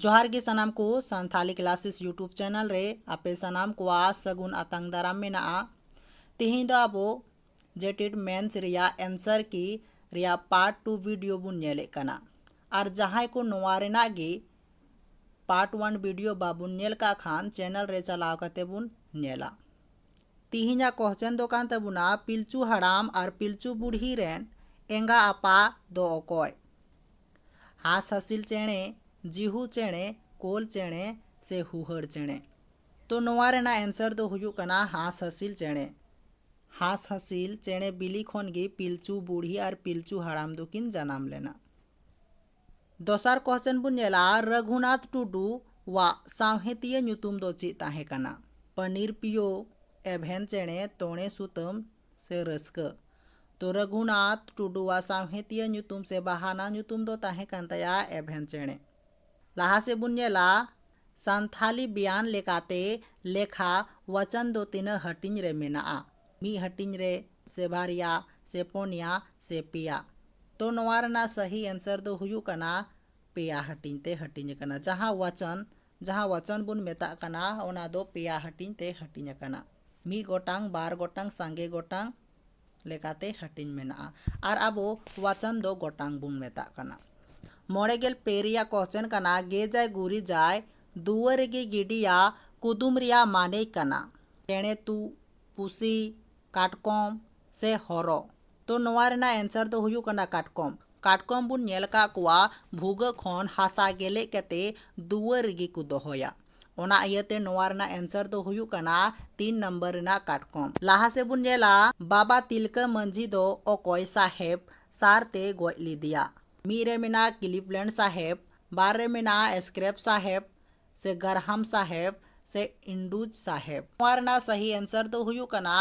ᱡᱚᱦᱟᱨ ᱜᱮ ᱥᱟᱱᱟᱢ ᱠᱚ ᱥᱟᱱᱛᱷᱟᱞᱤ ᱠᱞᱟᱥᱮᱥ ᱭᱩᱴᱩᱵᱽ ᱪᱮᱱᱮᱞ ᱨᱮ ᱟᱯᱮ ᱥᱟᱱᱟᱢ ᱠᱚᱣᱟᱜ ᱥᱟᱹᱜᱩᱱ ᱟᱛᱟᱝ ᱫᱟᱨᱟᱢ ᱢᱮᱱᱟᱜᱼᱟ ᱛᱮᱦᱮᱧ ᱫᱚ ᱟᱵᱚ ᱡᱮᱴᱮᱰ ᱢᱮᱱᱥ ᱨᱮᱭᱟᱜ ᱮᱱᱥᱟᱨ ᱠᱤ ᱨᱮᱭᱟᱜ ᱯᱟᱨᱴ ᱴᱩ ᱵᱷᱤᱰᱤᱭᱳ ᱵᱚᱱ ᱧᱮᱞᱮᱫ ᱠᱟᱱᱟ ᱟᱨ ᱡᱟᱦᱟᱸᱭ ᱠᱚ ᱱᱚᱣᱟ ᱨᱮᱱᱟᱜ ᱜᱮ ᱯᱟᱨᱴ ᱚᱣᱟᱱ ᱵᱷᱤᱰᱤᱭᱳ ᱵᱟᱵᱚᱱ ᱧᱮᱞ ᱠᱟᱜ ᱠᱷᱟᱱ ᱪᱮᱱᱮᱞ ᱨᱮ ᱪᱟᱞᱟᱣ ᱠᱟᱛᱮ ᱵᱚᱱ ᱧᱮᱞᱟ ᱛᱤᱦᱤᱧᱟᱜ ᱠᱚᱦᱪᱮᱱ ᱫᱚ ᱠᱟᱱ ᱛᱟᱵᱚᱱᱟ ᱯᱤᱞᱪᱩ ᱦᱟᱲᱟᱢ ᱟᱨ ᱯᱤᱞᱪᱩ ᱵᱩᱲᱦᱤ ᱨᱮᱱ ᱮᱸᱜᱟ ᱟᱯᱟ ᱫᱚ ᱚᱠᱚᱭ ᱦᱟᱸᱥ ᱦᱟᱹᱥᱤᱞ ᱪᱮᱬᱮ ᱡᱤᱦᱩ ᱪᱮᱬᱮ ᱠᱳᱞ ᱪᱮᱬᱮ ᱥᱮ ᱦᱩᱦᱟᱹᱲ ᱪᱮᱬᱮ ᱛᱚ ᱱᱚᱣᱟ ᱨᱮᱱᱟᱜ ᱮᱱᱥᱟᱨ ᱫᱚ ᱦᱩᱭᱩᱜ ᱠᱟᱱᱟ ᱦᱟᱸᱥ ᱦᱟᱹᱥᱤᱞ ᱪᱮᱬᱮ ᱦᱟᱸᱥ ᱦᱟᱹᱥᱤᱞ ᱪᱮᱬᱮ ᱵᱤᱞᱤ ᱠᱷᱚᱱ ᱜᱮ ᱯᱤᱞᱪᱩ ᱵᱩᱲᱦᱤ ᱟᱨ ᱯᱤᱞᱪᱩ ᱦᱟᱲᱟᱢ ᱫᱚᱠᱤᱱ ᱡᱟᱱᱟᱢ ᱞᱮᱱᱟ ᱫᱚᱥᱟᱨ ᱠᱚᱥᱪᱮᱱ ᱵᱚᱱ ᱧᱮᱞᱟ ᱨᱟᱹᱜᱷᱩᱱᱟᱛᱷ ᱴᱩᱰᱩ ᱣᱟᱜ ᱥᱟᱶᱦᱮᱛᱤᱭᱟᱹ ᱧᱩᱛᱩᱢ ᱫᱚ ᱪᱮᱫ ᱛᱟᱦᱮᱸ ᱠᱟᱱᱟ ᱯᱟᱱᱤᱨ ᱯᱤᱭᱳ ᱮᱵᱷᱮᱱ ᱪᱮᱬᱮ ᱛᱚᱬᱮ ᱥᱩᱛᱟᱹᱢ ᱥᱮ ᱨᱟᱹᱥᱠᱟᱹ ᱛᱚ ᱨᱟᱹᱜᱷᱩᱱᱟᱛᱷ ᱴᱩᱰᱩ ᱣᱟᱜ ᱥᱟᱶᱦᱮᱛᱤᱭᱟᱹ ᱧᱩᱛᱩᱢ ᱥᱮ ᱵᱟᱦᱟᱱᱟ ᱧᱩᱛᱩᱢ ᱫᱚ ᱛᱟᱦᱮᱸ ᱠᱟᱱ ᱛᱟᱭᱟ ᱮᱵᱷᱮᱱ ᱪᱮᱬᱮ ᱞᱟᱦᱟ ᱥᱮᱫ ᱵᱚᱱ ᱧᱮᱞᱟ ᱥᱟᱱᱛᱷᱟᱞᱤ ᱵᱮᱭᱟᱱ ᱞᱮᱠᱟᱛᱮ ᱞᱮᱠᱷᱟ ᱣᱟᱪᱟᱱ ᱫᱚ ᱛᱤᱱᱟᱹᱜ ᱦᱟᱹᱴᱤᱧ ᱨᱮ ᱢᱮᱱᱟᱜᱼᱟ ᱢᱤᱫ ᱦᱟᱹᱴᱤᱧ ᱨᱮ ᱥᱮ ᱵᱟᱨᱭᱟ ᱥᱮ ᱯᱚᱱᱭᱟ ᱥᱮ ᱯᱮᱭᱟ ᱛᱚ ᱱᱚᱣᱟ ᱨᱮᱱᱟᱜ ᱥᱟᱹᱦᱤ ᱮᱱᱥᱟᱨ ᱫᱚ ᱦᱩᱭᱩᱜ ᱠᱟᱱᱟ ᱯᱮᱭᱟ ᱦᱟᱹᱴᱤᱧ ᱛᱮ ᱦᱟᱹᱴᱤᱧ ᱟᱠᱟᱱᱟ ᱡᱟᱦᱟᱸ ᱣᱟᱪᱚᱱ ᱡᱟᱦᱟᱸ ᱣᱟᱪᱚᱱ ᱵᱚᱱ ᱢᱮᱛᱟᱜ ᱠᱟᱱᱟ ᱚᱱᱟ ᱫᱚ ᱯᱮᱭᱟ ᱦᱟᱹᱴᱤᱧ ᱛᱮ ᱦᱟᱹᱴᱤᱧ ᱟᱠᱟᱱᱟ ᱢᱤᱫ ᱜᱚᱴᱟᱝ ᱵᱟᱨ ᱜᱚᱴᱟᱝ ᱥᱟᱸᱜᱮ ᱜᱚᱴᱟᱝ ᱞᱮᱠᱟᱛᱮ ᱦᱟᱹᱴᱤᱧ ᱢᱮᱱᱟᱜᱼᱟ ᱟᱨ ᱟᱵᱚ ᱣᱟᱪᱚᱱ ᱫᱚ ᱜᱚᱴᱟᱝ ᱵᱚᱱ ᱢᱮᱛᱟᱜ ᱠᱟᱱᱟ ᱢᱚᱬᱮ ᱜᱮᱞ ᱯᱮ ᱨᱮᱭᱟᱜ ᱠᱚᱥᱪᱮᱱ ᱠᱟᱱᱟ ᱜᱮᱡᱟᱭ ᱜᱩᱨᱤᱡᱟᱭ ᱫᱩᱣᱟᱹᱨ ᱨᱮᱜᱮ ᱜᱤᱰᱤᱭᱟ ᱠᱩᱫᱩᱢ ᱨᱮᱭᱟᱜ ᱢᱟᱱᱮ ᱠᱟᱱᱟ ᱪᱮᱬᱮ ᱛᱩᱜ ᱯᱩᱥᱤ ᱠᱟᱴᱠᱚᱢ ᱥᱮ ᱦᱚᱨᱚ ᱛᱚ ᱱᱚᱣᱟ ᱨᱮᱱᱟᱜ ᱮᱱᱥᱟᱨ ᱫᱚ ᱦᱩᱭᱩᱜ ᱠᱟᱱᱟ ᱠᱟᱴᱠᱚᱢ ᱠᱟᱴᱠᱚᱢ ᱵᱚᱱ ᱧᱮᱞ ᱟᱠᱟᱫ ᱠᱚᱣᱟ ᱵᱷᱩᱜᱟᱹ ᱠᱷᱚᱱ ᱦᱟᱥᱟ ᱜᱮᱞᱮᱡ ᱠᱟᱛᱮ ᱫᱩᱣᱟᱹᱨ ᱨᱮᱜᱮ ᱠᱚ ᱫᱚᱦᱚᱭᱟ ᱚᱱᱟ ᱤᱭᱟᱹᱛᱮ ᱱᱚᱣᱟ ᱨᱮᱱᱟᱜ ᱮᱱᱥᱟᱨ ᱫᱚ ᱦᱩᱭᱩᱜ ᱠᱟᱱᱟ ᱛᱤᱱ ᱱᱟᱢᱵᱟᱨ ᱨᱮᱱᱟᱜ ᱠᱟᱴᱠᱚᱢ ᱞᱟᱦᱟ ᱥᱮᱫ ᱵᱚᱱ ᱧᱮᱞᱟ ᱵᱟᱵᱟ ᱛᱤᱞᱠᱟᱹ ᱢᱟᱹᱡᱷᱤ ᱫᱚ ᱚᱠᱚᱭ ᱥᱟᱦᱮᱵ ᱥᱟᱨ ᱛᱮ ᱜᱚᱡ ᱞᱮᱫᱮᱭᱟ ᱢᱤᱫ ᱨᱮ ᱢᱮᱱᱟᱜᱼᱟ ᱠᱞᱤᱯᱞᱮᱱᱰ ᱥᱟᱦᱮᱵ ᱵᱟᱨ ᱨᱮ ᱢᱮᱱᱟᱜᱼᱟ ᱥᱠᱨᱮᱯ ᱥᱟᱦᱮᱵ ᱥᱮ ᱜᱟᱨᱦᱟᱢ ᱥᱟᱦᱮᱵᱽ ᱥᱮ ᱤᱱᱰᱩᱡᱽ ᱥᱟᱦᱮᱵᱽ ᱱᱚᱣᱟ ᱨᱮᱱᱟᱜ ᱥᱟᱦᱤ ᱮᱱᱥᱟᱨ ᱫᱚ ᱦᱩᱭᱩᱜ ᱠᱟᱱᱟ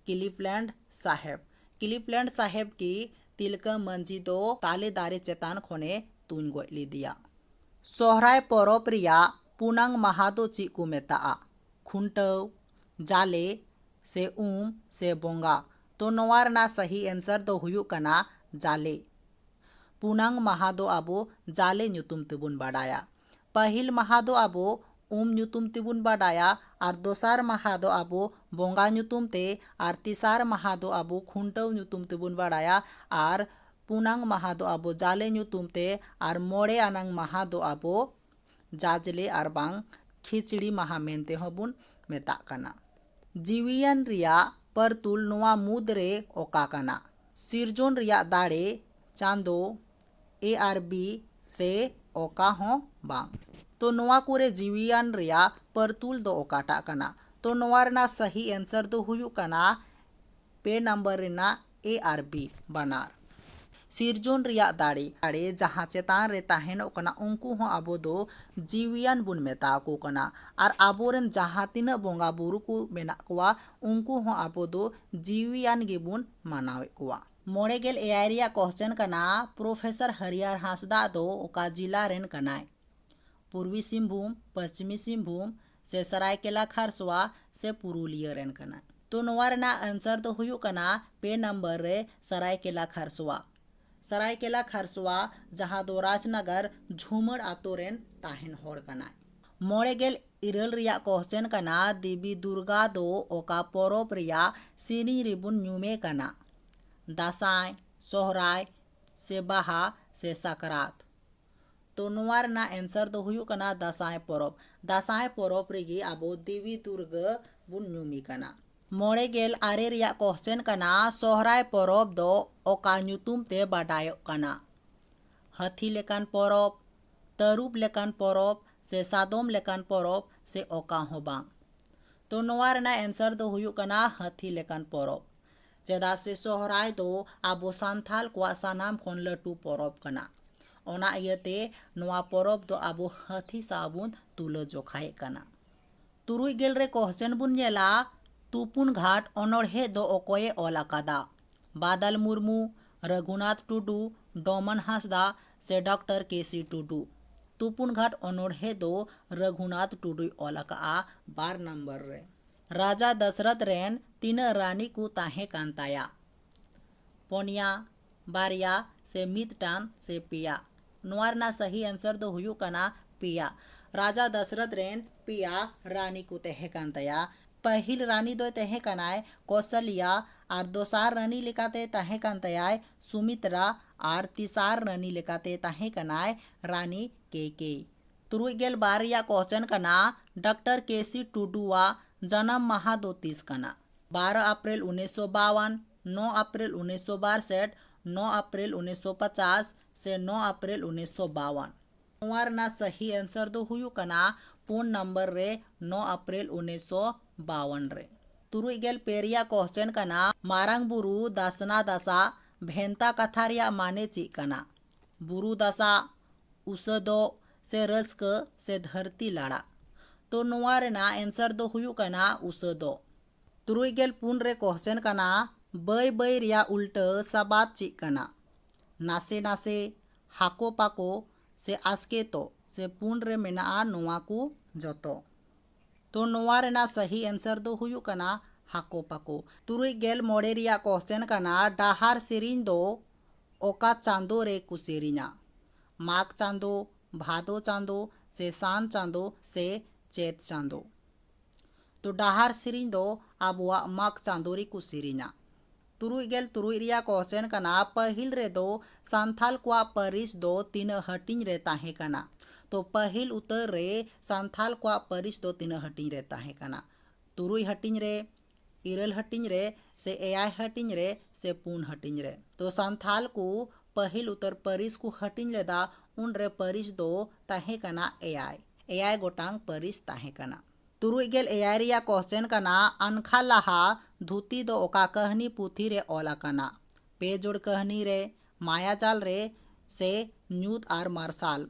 ᱠᱤᱞᱤᱯᱞᱮᱱᱰ ᱥᱟᱦᱮᱵᱽ ᱠᱤᱞᱤᱯᱞᱮᱱᱰ ᱥᱟᱦᱮᱵᱽ ᱜᱮ ᱛᱤᱞᱠᱟᱹ ᱢᱟᱹᱡᱷᱤ ᱫᱚ ᱛᱟᱞᱮ ᱫᱟᱨᱮ ᱪᱮᱛᱟᱱ ᱠᱷᱚᱱᱮ ᱛᱩᱧ ᱜᱚᱡ ᱞᱮᱫᱮᱭᱟ ᱥᱚᱦᱨᱟᱭ ᱯᱚᱨᱚᱵᱽ ᱨᱮᱭᱟᱜ ᱯᱩᱱᱟᱝ ᱢᱟᱦᱟ ᱫᱚ ᱪᱮᱫ ᱠᱚ ᱢᱮᱛᱟᱜᱼᱟ ᱠᱷᱩᱱᱴᱟᱹᱣ ᱡᱟᱞᱮ ᱥᱮ ᱩᱢ ᱥᱮ ᱵᱚᱸᱜᱟ ᱛᱚ ᱱᱚᱣᱟ ᱨᱮᱱᱟᱜ ᱥᱟᱦᱤ ᱮᱱᱥᱟᱨ ᱫᱚ ᱦᱩᱭᱩᱜ ᱠᱟᱱᱟ ᱡᱟᱞᱮ ᱯᱩᱱᱟᱝ ᱢᱟᱦᱟ ᱫᱚ ᱟᱵᱚ ᱡᱟᱞᱮ ᱧᱩᱛᱩᱢ ᱛᱮᱵᱚᱱ ᱵᱟᱰᱟᱭᱟ ᱯᱟᱹᱦᱤᱞ ᱢᱟᱦᱟᱸ ᱫᱚ ᱟᱵᱚ ᱩᱢ ᱧᱩᱛᱩᱢ ᱛᱮᱵᱚᱱ ᱵᱟᱰᱟᱭᱟ ᱟᱨ ᱫᱚᱥᱟᱨ ᱢᱟᱦᱟᱸ ᱫᱚ ᱟᱵᱚ ᱵᱚᱸᱜᱟ ᱧᱩᱛᱩᱢ ᱛᱮ ᱟᱨ ᱛᱮᱥᱟᱨ ᱢᱟᱦᱟᱸ ᱫᱚ ᱟᱵᱚ ᱠᱷᱩᱱᱴᱟᱹᱣ ᱧᱩᱛᱩᱢ ᱛᱮᱵᱚᱱ ᱵᱟᱰᱟᱭᱟ ᱟᱨ ᱯᱩᱱᱟᱝ ᱢᱟᱦᱟᱸ ᱫᱚ ᱟᱵᱚ ᱡᱟᱞᱮ ᱧᱩᱛᱩᱢ ᱛᱮ ᱟᱨ ᱢᱚᱬᱮ ᱟᱱᱟᱝ ᱢᱟᱦᱟᱸ ᱫᱚ ᱟᱵᱚ ᱡᱟᱡᱽᱞᱮ ᱟᱨ ᱵᱟᱝ ᱠᱷᱤᱪᱲᱤ ᱢᱟᱦᱟᱸ ᱢᱮᱱᱛᱮ ᱦᱚᱸ ᱵᱚᱱ ᱢᱮᱛᱟᱜ ᱠᱟᱱᱟ᱾ ᱡᱤᱣᱤᱭᱟᱱ ᱨᱮᱭᱟᱜ ᱯᱟᱹᱨᱛᱩᱞ ᱱᱚᱣᱟ ᱢᱩᱫᱽ ᱨᱮ ᱚᱠᱟ ᱠᱟᱱᱟ? ᱥᱤᱨᱡᱚᱱ ᱨᱮᱭᱟᱜ ᱫᱟᱲᱮ, ᱪᱟᱸᱫᱚ, ᱮ ᱟᱨ ᱵᱤ ᱥᱮ ᱚᱠᱟ ᱦᱚᱸ ᱵᱟᱝ᱾ ᱛᱚ ᱱᱚᱣᱟ ᱠᱚᱨᱮ ᱡᱤᱣᱤᱭᱟᱱ ᱨᱮᱭᱟᱜ ᱯᱟᱹᱨᱛᱩᱞ ᱫᱚ ᱚᱠᱟᱴᱟᱜ ᱠᱟᱱᱟ? ᱛᱚ ᱱᱚᱣᱟ ᱨᱮᱱᱟᱜ ᱥᱟᱹᱦᱤ ᱮᱱᱥᱟᱨ ᱫᱚ ᱦᱩᱭᱩᱜ ᱠᱟᱱᱟ ᱯᱮ ᱱᱟᱢᱵᱟᱨ ᱨᱮᱱᱟᱜ ᱮ ᱟᱨ ᱵᱤ ᱵᱟᱱᱟᱨ᱾ ᱥᱤᱨᱡᱚᱱ ᱨᱮᱭᱟᱜ ᱫᱟᱲᱮ᱾ ᱫᱟᱲᱮ ᱡᱟᱦᱟᱸ ᱪᱮᱛᱟᱱ ᱨᱮ ᱛᱟᱦᱮᱸᱱᱚᱜ ᱠᱟᱱᱟ ᱩᱱᱠᱩ ᱦᱚᱸ ᱟᱵᱚ ᱫᱚ ᱡᱤᱣᱤᱭᱟᱱ ᱵᱚᱱ ᱢᱮᱛᱟ ᱟᱠᱚ ᱠᱟᱱᱟ᱾ ᱟᱨ ᱟᱵᱚ ᱨᱮᱱ ᱡᱟᱦᱟᱸ ᱛᱤᱱᱟᱹᱜ ᱵᱚᱸᱜᱟ ᱵᱩᱨᱩ ᱠᱚ ᱢᱮᱱᱟᱜ ᱠᱚᱣᱟ ᱩᱱᱠᱩ ᱦᱚᱸ ᱟᱵᱚ ᱫᱚ ᱡᱤᱣᱤᱭᱟᱱ ᱜᱮ ᱵᱚᱱ ᱢᱟᱱᱟᱣᱮᱫ ᱠᱚᱣᱟ᱾ ᱢᱚᱬᱮ ᱜᱮᱞ ᱮᱭᱟᱭ ᱨᱮᱭᱟᱜ ᱠᱚᱥᱪᱮᱱ ᱠᱟᱱᱟ ᱯᱨᱚᱯᱷᱮᱥᱚᱨ ᱦᱟᱹᱨᱤᱭᱟᱨ ᱦᱟᱸᱥᱫᱟ ᱫᱚ ᱚᱠᱟ ᱡᱮᱞᱟ ᱨᱮᱱ ᱠᱟᱱᱟᱭ ᱯᱩᱨᱵᱤ ᱥᱤᱝᱵᱷᱩᱢ ᱯᱚᱥᱪᱤᱢᱤ ᱥᱤᱝᱵᱷᱩᱢ ᱥᱮ ᱥᱟᱨᱟᱭᱠᱮᱞᱟ ᱠᱷᱟᱨᱥᱚᱣᱟ ᱥᱮ ᱯᱩᱨᱩᱞᱤᱭᱟᱹ ᱨᱮᱱ ᱠᱟᱱᱟᱭ ᱛᱚ ᱱᱚᱣᱟ ᱨᱮᱱᱟᱜ ᱟᱱᱥᱟᱨ ᱫᱚ ᱦᱩᱭᱩᱜ ᱠᱟᱱᱟ ᱯᱮ ᱱᱟᱢᱵᱟᱨ ᱨᱮ ᱥᱟᱨᱟᱭᱠᱮᱞᱟ ᱠᱷᱟᱨᱥᱚᱣᱟ ᱥᱟᱨᱟᱭᱠᱮᱞᱟ ᱠᱷᱟᱨᱥᱚᱣᱟ ᱡᱟᱦᱟᱸ ᱫᱚ ᱨᱟᱡᱽᱱᱟᱜᱟᱨ ᱡᱷᱩᱢᱟᱹᱲ ᱟᱛᱳ ᱨᱮᱱ ᱛᱟᱦᱮᱱ ᱦᱚᱲ ᱠᱟᱱᱟᱭ ᱢᱚᱬᱮ ᱜᱮᱞ ᱤᱨᱟᱹᱞ ᱨᱮᱭᱟᱜ ᱠᱚᱦᱪᱮᱱ ᱠᱟᱱᱟ ᱫᱮᱵᱤ ᱫᱩᱨᱜᱟ ᱫᱚ ᱚᱠᱟ ᱯᱚᱨᱚᱵᱽ ᱨᱮᱭᱟᱜ ᱥᱮᱨᱮᱧ ᱨᱮᱵᱚᱱ ᱧᱩᱢᱮ ᱠᱟᱱᱟ ᱫᱟᱸᱥᱟᱭ ᱥᱚᱦᱨᱟᱭ ᱥᱮ ᱵᱟᱦᱟ ᱥᱮ ᱥᱟᱠᱨᱟᱛ ᱛᱚ ᱱᱚᱣᱟ ᱨᱮᱱᱟᱜ ᱮᱱᱥᱟᱨ ᱫᱚ ᱦᱩᱭᱩᱜ ᱠᱟᱱᱟ ᱫᱟᱸᱥᱟᱭ ᱯᱚᱨᱚᱵᱽ ᱫᱟᱸᱥᱟᱭ ᱯᱚᱨᱚᱵᱽ ᱨᱮᱜᱮ ᱟᱵᱚ ᱫᱮᱵᱤ ᱫᱩᱨᱜᱟᱹ ᱵᱚᱱ ᱧᱩᱢᱮ ᱠᱟᱱᱟ ᱢᱚᱬᱮ ᱜᱮᱞ ᱟᱨᱮ ᱨᱮᱭᱟᱜ ᱠᱚᱦᱪᱮᱱ ᱠᱟᱱᱟ ᱥᱚᱦᱨᱟᱭ ᱯᱚᱨᱚᱵᱽ ᱫᱚ ᱚᱠᱟ ᱧᱩᱛᱩᱢ ᱛᱮ ᱵᱟᱰᱟᱭᱚᱜ ᱠᱟᱱᱟ ᱦᱟᱹᱛᱷᱤ ᱞᱮᱠᱟᱱ ᱯᱚᱨᱚᱵᱽ ᱛᱟᱹᱨᱩᱵ ᱞᱮᱠᱟᱱ ᱯᱚᱨᱚᱵᱽ ᱥᱮ ᱥᱟᱫᱚᱢ ᱞᱮᱠᱟᱱ ᱯᱚᱨᱚᱵᱽ ᱥᱮ ᱚᱠᱟ ᱦᱚᱸ ᱵᱟᱝ᱾ ᱛᱚ ᱱᱚᱣᱟ ᱨᱮᱱᱟᱜ ᱮᱱᱥᱟᱨ ᱫᱚ ᱦᱩᱭᱩᱜ ᱠᱟᱱᱟ ᱦᱟᱹᱛᱤ ᱞᱮᱠᱟᱱ ᱯᱚᱨᱚᱵᱽ᱾ ᱪᱮᱫᱟᱜ ᱥᱮ ᱥᱚᱦᱨᱟᱭ ᱫᱚ ᱟᱵᱚ ᱥᱟᱱᱛᱷᱟᱞ ᱠᱚᱣᱟᱜ ᱥᱟᱱᱟᱢ ᱠᱷᱚᱱ ᱞᱟᱹᱴᱩ ᱯᱚᱨᱚᱵᱽ ᱠᱟᱱᱟ᱾ ᱚᱱᱟ ᱤᱭᱟᱹ ᱛᱮ ᱱᱚᱣᱟ ᱯᱚᱨᱚᱵᱽ ᱫᱚ ᱟᱵᱚ ᱦᱟᱹᱛᱤ ᱥᱟᱶ ᱵᱚᱱ ᱛᱩᱞᱟᱹ ᱡᱚᱠᱷᱟᱭᱮᱫ ᱠᱟᱱᱟ᱾ ᱛᱩᱨᱩᱭ ᱜᱮᱞ ᱨᱮ ᱠᱚᱦᱥᱪᱮᱱ ᱵᱚᱱ ᱧᱮᱞᱟ, ᱛᱩᱯᱩᱱ ᱜᱷᱟᱴ ᱚᱱᱚᱬᱦᱮ ᱫᱚ ᱚᱠᱚᱭᱮ ᱚᱞ ᱟᱠᱟᱫᱟ? ᱵᱟᱫᱟᱞ ᱢᱩᱨᱢᱩ, ᱨᱟᱹᱜᱷᱩᱱᱟᱛᱷ ᱴᱩᱰᱩ, ᱰᱚᱢᱚᱱ ᱦᱟᱸᱥᱫᱟ ᱥᱮ ᱰᱚᱠᱴᱚᱨ ᱠᱮ ᱥᱤ ᱴᱩᱰᱩ᱾ ᱛᱩᱯᱩᱱ ᱜᱷᱟᱴ ᱚᱱᱚᱬᱦᱮ ᱫᱚ ᱨᱟᱹᱜᱷᱩᱱᱟᱛᱷ ᱴᱩᱰᱩᱭ ᱚᱞ ᱟᱠᱟᱫᱼᱟ ᱵᱟᱨ ᱱᱚᱢᱵᱚᱨ ᱨᱮ᱾ ᱨᱟᱡᱟ ᱫᱚᱥᱨᱚᱛᱷ ᱨᱮᱱ ᱛᱤᱱᱟᱹᱜ ᱨᱟᱹᱱᱤ ᱠᱚ ᱛᱟᱦᱮᱸ ᱠᱟᱱ ᱛᱟᱭᱟ? ᱯᱚᱱᱭᱟ, ᱵᱟᱨᱭᱟ ᱥᱮ ᱢᱤᱫᱴᱟᱝ ᱥᱮ ᱯᱮᱭᱟ? ᱱᱚᱣᱟ ᱨᱮᱱᱟᱜ ᱥᱟᱹᱦᱤ ᱟᱱᱥᱟᱨ ᱫᱚ ᱦᱩᱭᱩᱜ ᱠᱟᱱᱟ ᱯᱮᱭᱟ ᱨᱟᱡᱟ ᱫᱟᱥᱨᱚᱛᱷ ᱨᱮᱱ ᱯᱮᱭᱟ ᱨᱟᱱᱤ ᱠᱚ ᱛᱟᱦᱮᱸ ᱠᱟᱱ ᱛᱟᱭᱟ ᱯᱟᱹᱦᱤᱞ ᱨᱟᱱᱤ ᱫᱚᱭ ᱛᱟᱦᱮᱸ ᱠᱟᱱᱟᱭ ᱠᱚᱥᱟᱞᱤᱭᱟ ᱟᱨ ᱫᱚᱥᱟᱨ ᱨᱟᱱᱤ ᱞᱮᱠᱟᱛᱮ ᱛᱟᱦᱮᱸ ᱠᱟᱱ ᱛᱟᱭᱟᱭ ᱥᱩᱢᱤᱛᱨᱟ ᱟᱨ ᱛᱮᱥᱟᱨ ᱨᱟᱱᱤ ᱞᱮᱠᱟᱛᱮ ᱛᱟᱦᱮᱸ ᱠᱟᱱᱟᱭ ᱨᱟᱱᱤ ᱠᱮ ᱠᱮ ᱛᱩᱨᱩᱭ ᱜᱮᱞ ᱵᱟᱨ ᱨᱮᱭᱟᱜ ᱠᱚᱥᱪᱮᱱ ᱠᱟᱱᱟ ᱰᱟᱠᱴᱚᱨ ᱠᱮ ᱥᱤ ᱴᱩᱰᱩᱣᱟᱜ ᱡᱟᱱᱟᱢ ᱢᱟᱦᱟ ᱫᱚ ᱛᱤᱥ ᱠᱟᱱᱟ ᱵᱟᱨᱚ ᱟᱯᱨᱮᱞ ᱩᱱᱤᱥᱥᱚ ᱵᱟᱣᱟᱱ ᱱᱚ ᱟᱯᱨᱮᱞ ᱩᱱᱤᱥᱥᱚ ᱵᱟᱨᱥᱮᱴ ᱱᱚ ᱟᱯᱨᱮᱞ ᱩᱱᱤᱥᱥᱚ ᱯᱚᱪᱟᱥ ᱥᱮ ᱱᱚ ᱟᱯᱨᱮᱞ ᱩᱱᱤᱥᱥᱚ ᱵᱟᱣᱟᱱ᱾ ᱱᱚᱣᱟ ᱨᱮᱱᱟᱜ ᱥᱟᱹᱦᱤ ᱮᱱᱥᱟᱨ ᱫᱚ ᱦᱩᱭᱩᱜ ᱠᱟᱱᱟ ᱯᱩᱱ ᱱᱟᱢᱵᱟᱨ ᱨᱮ ᱱᱚ ᱟᱯᱨᱮᱞ ᱩᱱᱤᱥᱥᱚ ᱵᱟᱣᱟᱱ ᱨᱮ᱾ ᱛᱩᱨᱩᱭ ᱜᱮᱞ ᱯᱮ ᱨᱮᱭᱟᱜ ᱠᱚᱦᱪᱮᱱ ᱠᱟᱱᱟ ᱢᱟᱨᱟᱝ ᱵᱩᱨᱩ ᱫᱟᱥᱱᱟ ᱫᱟᱥ ᱟᱜ ᱵᱷᱮᱱᱛᱟ ᱠᱟᱛᱷᱟ ᱨᱮᱭᱟᱜ ᱢᱟᱱᱮ ᱪᱮᱫ ᱠᱟᱱᱟ? ᱵᱩᱨᱩ ᱫᱟᱥᱟᱜ, ᱩᱥᱟᱹᱫᱚᱜ ᱥᱮ ᱨᱟᱹᱥᱠᱟᱹ ᱥᱮ ᱫᱷᱟᱹᱨᱛᱤ ᱞᱟᱲᱟᱜ᱾ ᱛᱚ ᱱᱚᱣᱟ ᱨᱮᱱᱟᱜ ᱮᱱᱥᱟᱨ ᱫᱚ ᱦᱩᱭᱩᱜ ᱠᱟᱱᱟ ᱩᱥᱟᱹᱫᱚᱜ᱾ ᱛᱩᱨᱩᱭ ᱜᱮᱞ ᱯᱩᱱ ᱨᱮ ᱠᱚᱦᱪᱮᱱ ᱠᱟᱱᱟ ᱵᱟᱹᱭ ᱵᱟᱹᱭ ᱨᱮᱭᱟᱜ ᱩᱞᱴᱟᱹ ᱥᱟᱵᱟᱫ ᱪᱮᱫ ᱠᱟᱱᱟ? ᱱᱟᱥᱮ ᱱᱟᱥᱮ ᱦᱟᱠᱚ ᱯᱟᱠᱚ ᱥᱮ ᱟᱥᱠᱮᱛᱚᱜ ᱥᱮ ᱯᱩᱱ ᱨᱮ ᱢᱮᱱᱟᱜᱼᱟ ᱱᱚᱣᱟ ᱠᱚ ᱡᱚᱛᱚ ᱛᱚ ᱱᱚᱣᱟ ᱨᱮᱱᱟᱜ ᱥᱟᱹᱦᱤ ᱮᱱᱥᱟᱨ ᱫᱚ ᱦᱩᱭᱩᱜ ᱠᱟᱱᱟ ᱦᱟᱠᱚ ᱯᱟᱠᱚ ᱛᱩᱨᱩᱭ ᱜᱮᱞ ᱢᱚᱬᱮ ᱨᱮᱭᱟᱜ ᱠᱚᱥᱪᱮᱱ ᱠᱟᱱᱟ ᱰᱟᱦᱟᱨ ᱥᱮᱨᱮᱧ ᱫᱚ ᱚᱠᱟ ᱪᱟᱸᱫᱚ ᱨᱮ ᱠᱚ ᱥᱮᱨᱮᱧᱟ ᱢᱟᱜᱽ ᱪᱟᱸᱫᱚ ᱵᱷᱟᱫᱚ ᱪᱟᱸᱫᱚ ᱥᱮ ᱥᱟᱱ ᱪᱟᱸᱫᱚ ᱥᱮ ᱪᱮᱛ ᱪᱟᱸᱫᱚ ᱛᱚ ᱰᱟᱦᱟᱨ ᱥᱮᱨᱮᱧ ᱫᱚ ᱟᱵᱚᱣᱟᱜ ᱢᱟᱜᱽ ᱪᱟᱸᱫᱚ ᱨᱮ ᱠᱚ ᱥᱮᱨᱮᱧᱟ ᱛᱩᱨᱩᱭ ᱜᱮᱞ ᱛᱩᱨᱩᱭ ᱨᱮᱭᱟᱜ ᱠᱚᱥᱪᱮᱱ ᱠᱟᱱᱟ ᱯᱟᱹᱦᱤᱞ ᱨᱮ ᱫᱚ ᱥᱟᱱᱛᱷᱟᱞ ᱠᱚᱣᱟᱜ ᱯᱟᱹᱨᱤᱥ ᱫᱚ ᱛᱤᱱᱟᱹᱜ ᱦᱟᱹᱴᱤᱧ ᱨᱮ ᱛᱟᱦᱮᱸ ᱠᱟᱱᱟ ᱛᱚ ᱯᱟᱹᱦᱤᱞ ᱩᱛᱟᱹᱨ ᱨᱮ ᱥᱟᱱᱛᱷᱟᱞ ᱠᱚᱣᱟᱜ ᱯᱟᱹᱨᱤᱥ ᱫᱚ ᱛᱤᱱᱟᱹᱜ ᱦᱟᱹᱴᱤᱧ ᱨᱮ ᱛᱟᱦᱮᱸ ᱠᱟᱱᱟ ᱛᱩᱨᱩᱭ ᱦᱟᱹᱴᱤᱧ ᱨᱮ ᱤᱨᱟᱹᱞ ᱦᱟᱹᱴᱤᱧ ᱨᱮ ᱥᱮ ᱮᱭᱟᱭ ᱦᱟᱹᱴᱤᱧ ᱨᱮ ᱥᱮ ᱯᱩᱱ ᱦᱟᱹᱴᱤᱧ ᱨᱮ ᱛᱚ ᱥᱟᱱᱛᱷᱟᱞ ᱠᱚ ᱯᱟᱹᱦᱤᱞ ᱩᱛᱟᱹᱨ ᱯᱟᱹᱨᱤᱥ ᱠᱚ ᱦᱟᱹᱴᱤᱧ ᱞᱮᱫᱟ ᱩᱱᱨᱮ ᱯᱟᱹᱨᱤᱥ ᱫᱚ ᱛᱟᱦᱮᱸ ᱠᱟᱱᱟ ᱮᱭᱟᱭ ᱮᱭᱟᱭ ᱜᱚᱴᱟᱝ ᱯᱟᱹᱨᱤᱥ ᱛᱟᱦᱮᱸ ᱠᱟᱱᱟ ᱛᱩᱨᱩᱭ ᱜᱮᱞ ᱮᱭᱟᱭ ᱨᱮᱭᱟᱜ ᱠᱚᱥᱪᱮᱱ ᱠᱟᱱᱟ ᱟᱱᱠᱷᱟ ᱞᱟᱦᱟ ᱫᱷᱩᱛᱤ ᱫᱚ ᱚᱠᱟ ᱠᱟᱹᱦᱱᱤ ᱯᱩᱛᱷᱤ ᱨᱮ ᱚᱞ ᱟᱠᱟᱱᱟ? ᱯᱮ ᱡᱚᱲ ᱠᱟᱹᱦᱱᱤ ᱨᱮ, ᱢᱟᱭᱟ ᱡᱟᱞ ᱨᱮ ᱥᱮ ᱧᱩᱛ ᱟᱨ ᱢᱟᱨᱥᱟᱞ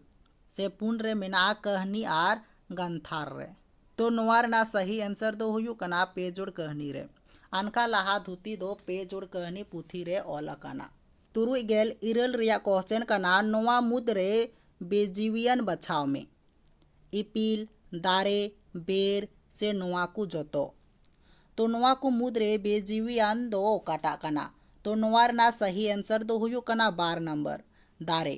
ᱥᱮ ᱯᱩᱱ ᱨᱮ ᱢᱮᱱᱟᱜᱼᱟ ᱠᱟᱹᱦᱱᱤ ᱟᱨ ᱜᱟᱱᱛᱷᱟᱨ ᱨᱮ᱾ ᱛᱚ ᱱᱚᱣᱟ ᱨᱮᱱᱟᱜ ᱥᱟᱹᱦᱤ ᱮᱱᱥᱟᱨ ᱫᱚ ᱦᱩᱭᱩᱜ ᱠᱟᱱᱟ ᱯᱮ ᱡᱚᱲ ᱠᱟᱹᱦᱱᱤ ᱨᱮ᱾ ᱟᱱᱠᱷᱟ ᱞᱟᱦᱟ ᱫᱷᱩᱛᱤ ᱫᱚ ᱯᱮ ᱡᱚᱲ ᱠᱟᱹᱦᱱᱤ ᱯᱩᱛᱷᱤ ᱨᱮ ᱚᱞ ᱟᱠᱟᱱᱟ᱾ ᱛᱩᱨᱩᱭ ᱜᱮᱞ ᱤᱨᱟᱹᱞ ᱨᱮᱭᱟᱜ ᱠᱚᱥᱪᱮᱱ ᱠᱟᱱᱟ ᱱᱚᱣᱟ ᱢᱩᱫᱽ ᱨᱮ ᱵᱮᱡᱤᱣᱤᱭᱟᱱ ᱵᱟᱪᱷᱟᱣ ᱢᱮ᱾ ᱤᱯᱤᱞ ᱫᱟᱨᱮ ᱵᱮᱨ ᱥᱮ ᱱᱚᱣᱟ ᱠᱚ ᱡᱚᱛᱚ ᱛᱚ ᱱᱚᱣᱟ ᱠᱚ ᱢᱩᱫᱽ ᱨᱮ ᱵᱮᱼᱡᱤᱣᱤᱭᱟᱱ ᱫᱚ ᱚᱠᱟᱴᱟᱜ ᱠᱟᱱᱟ ᱛᱚ ᱱᱚᱣᱟ ᱨᱮᱱᱟᱜ ᱥᱟᱹᱦᱤ ᱮᱱᱥᱟᱨ ᱫᱚ ᱦᱩᱭᱩᱜ ᱠᱟᱱᱟ ᱵᱟᱨ ᱱᱟᱢᱵᱟᱨ ᱫᱟᱨᱮ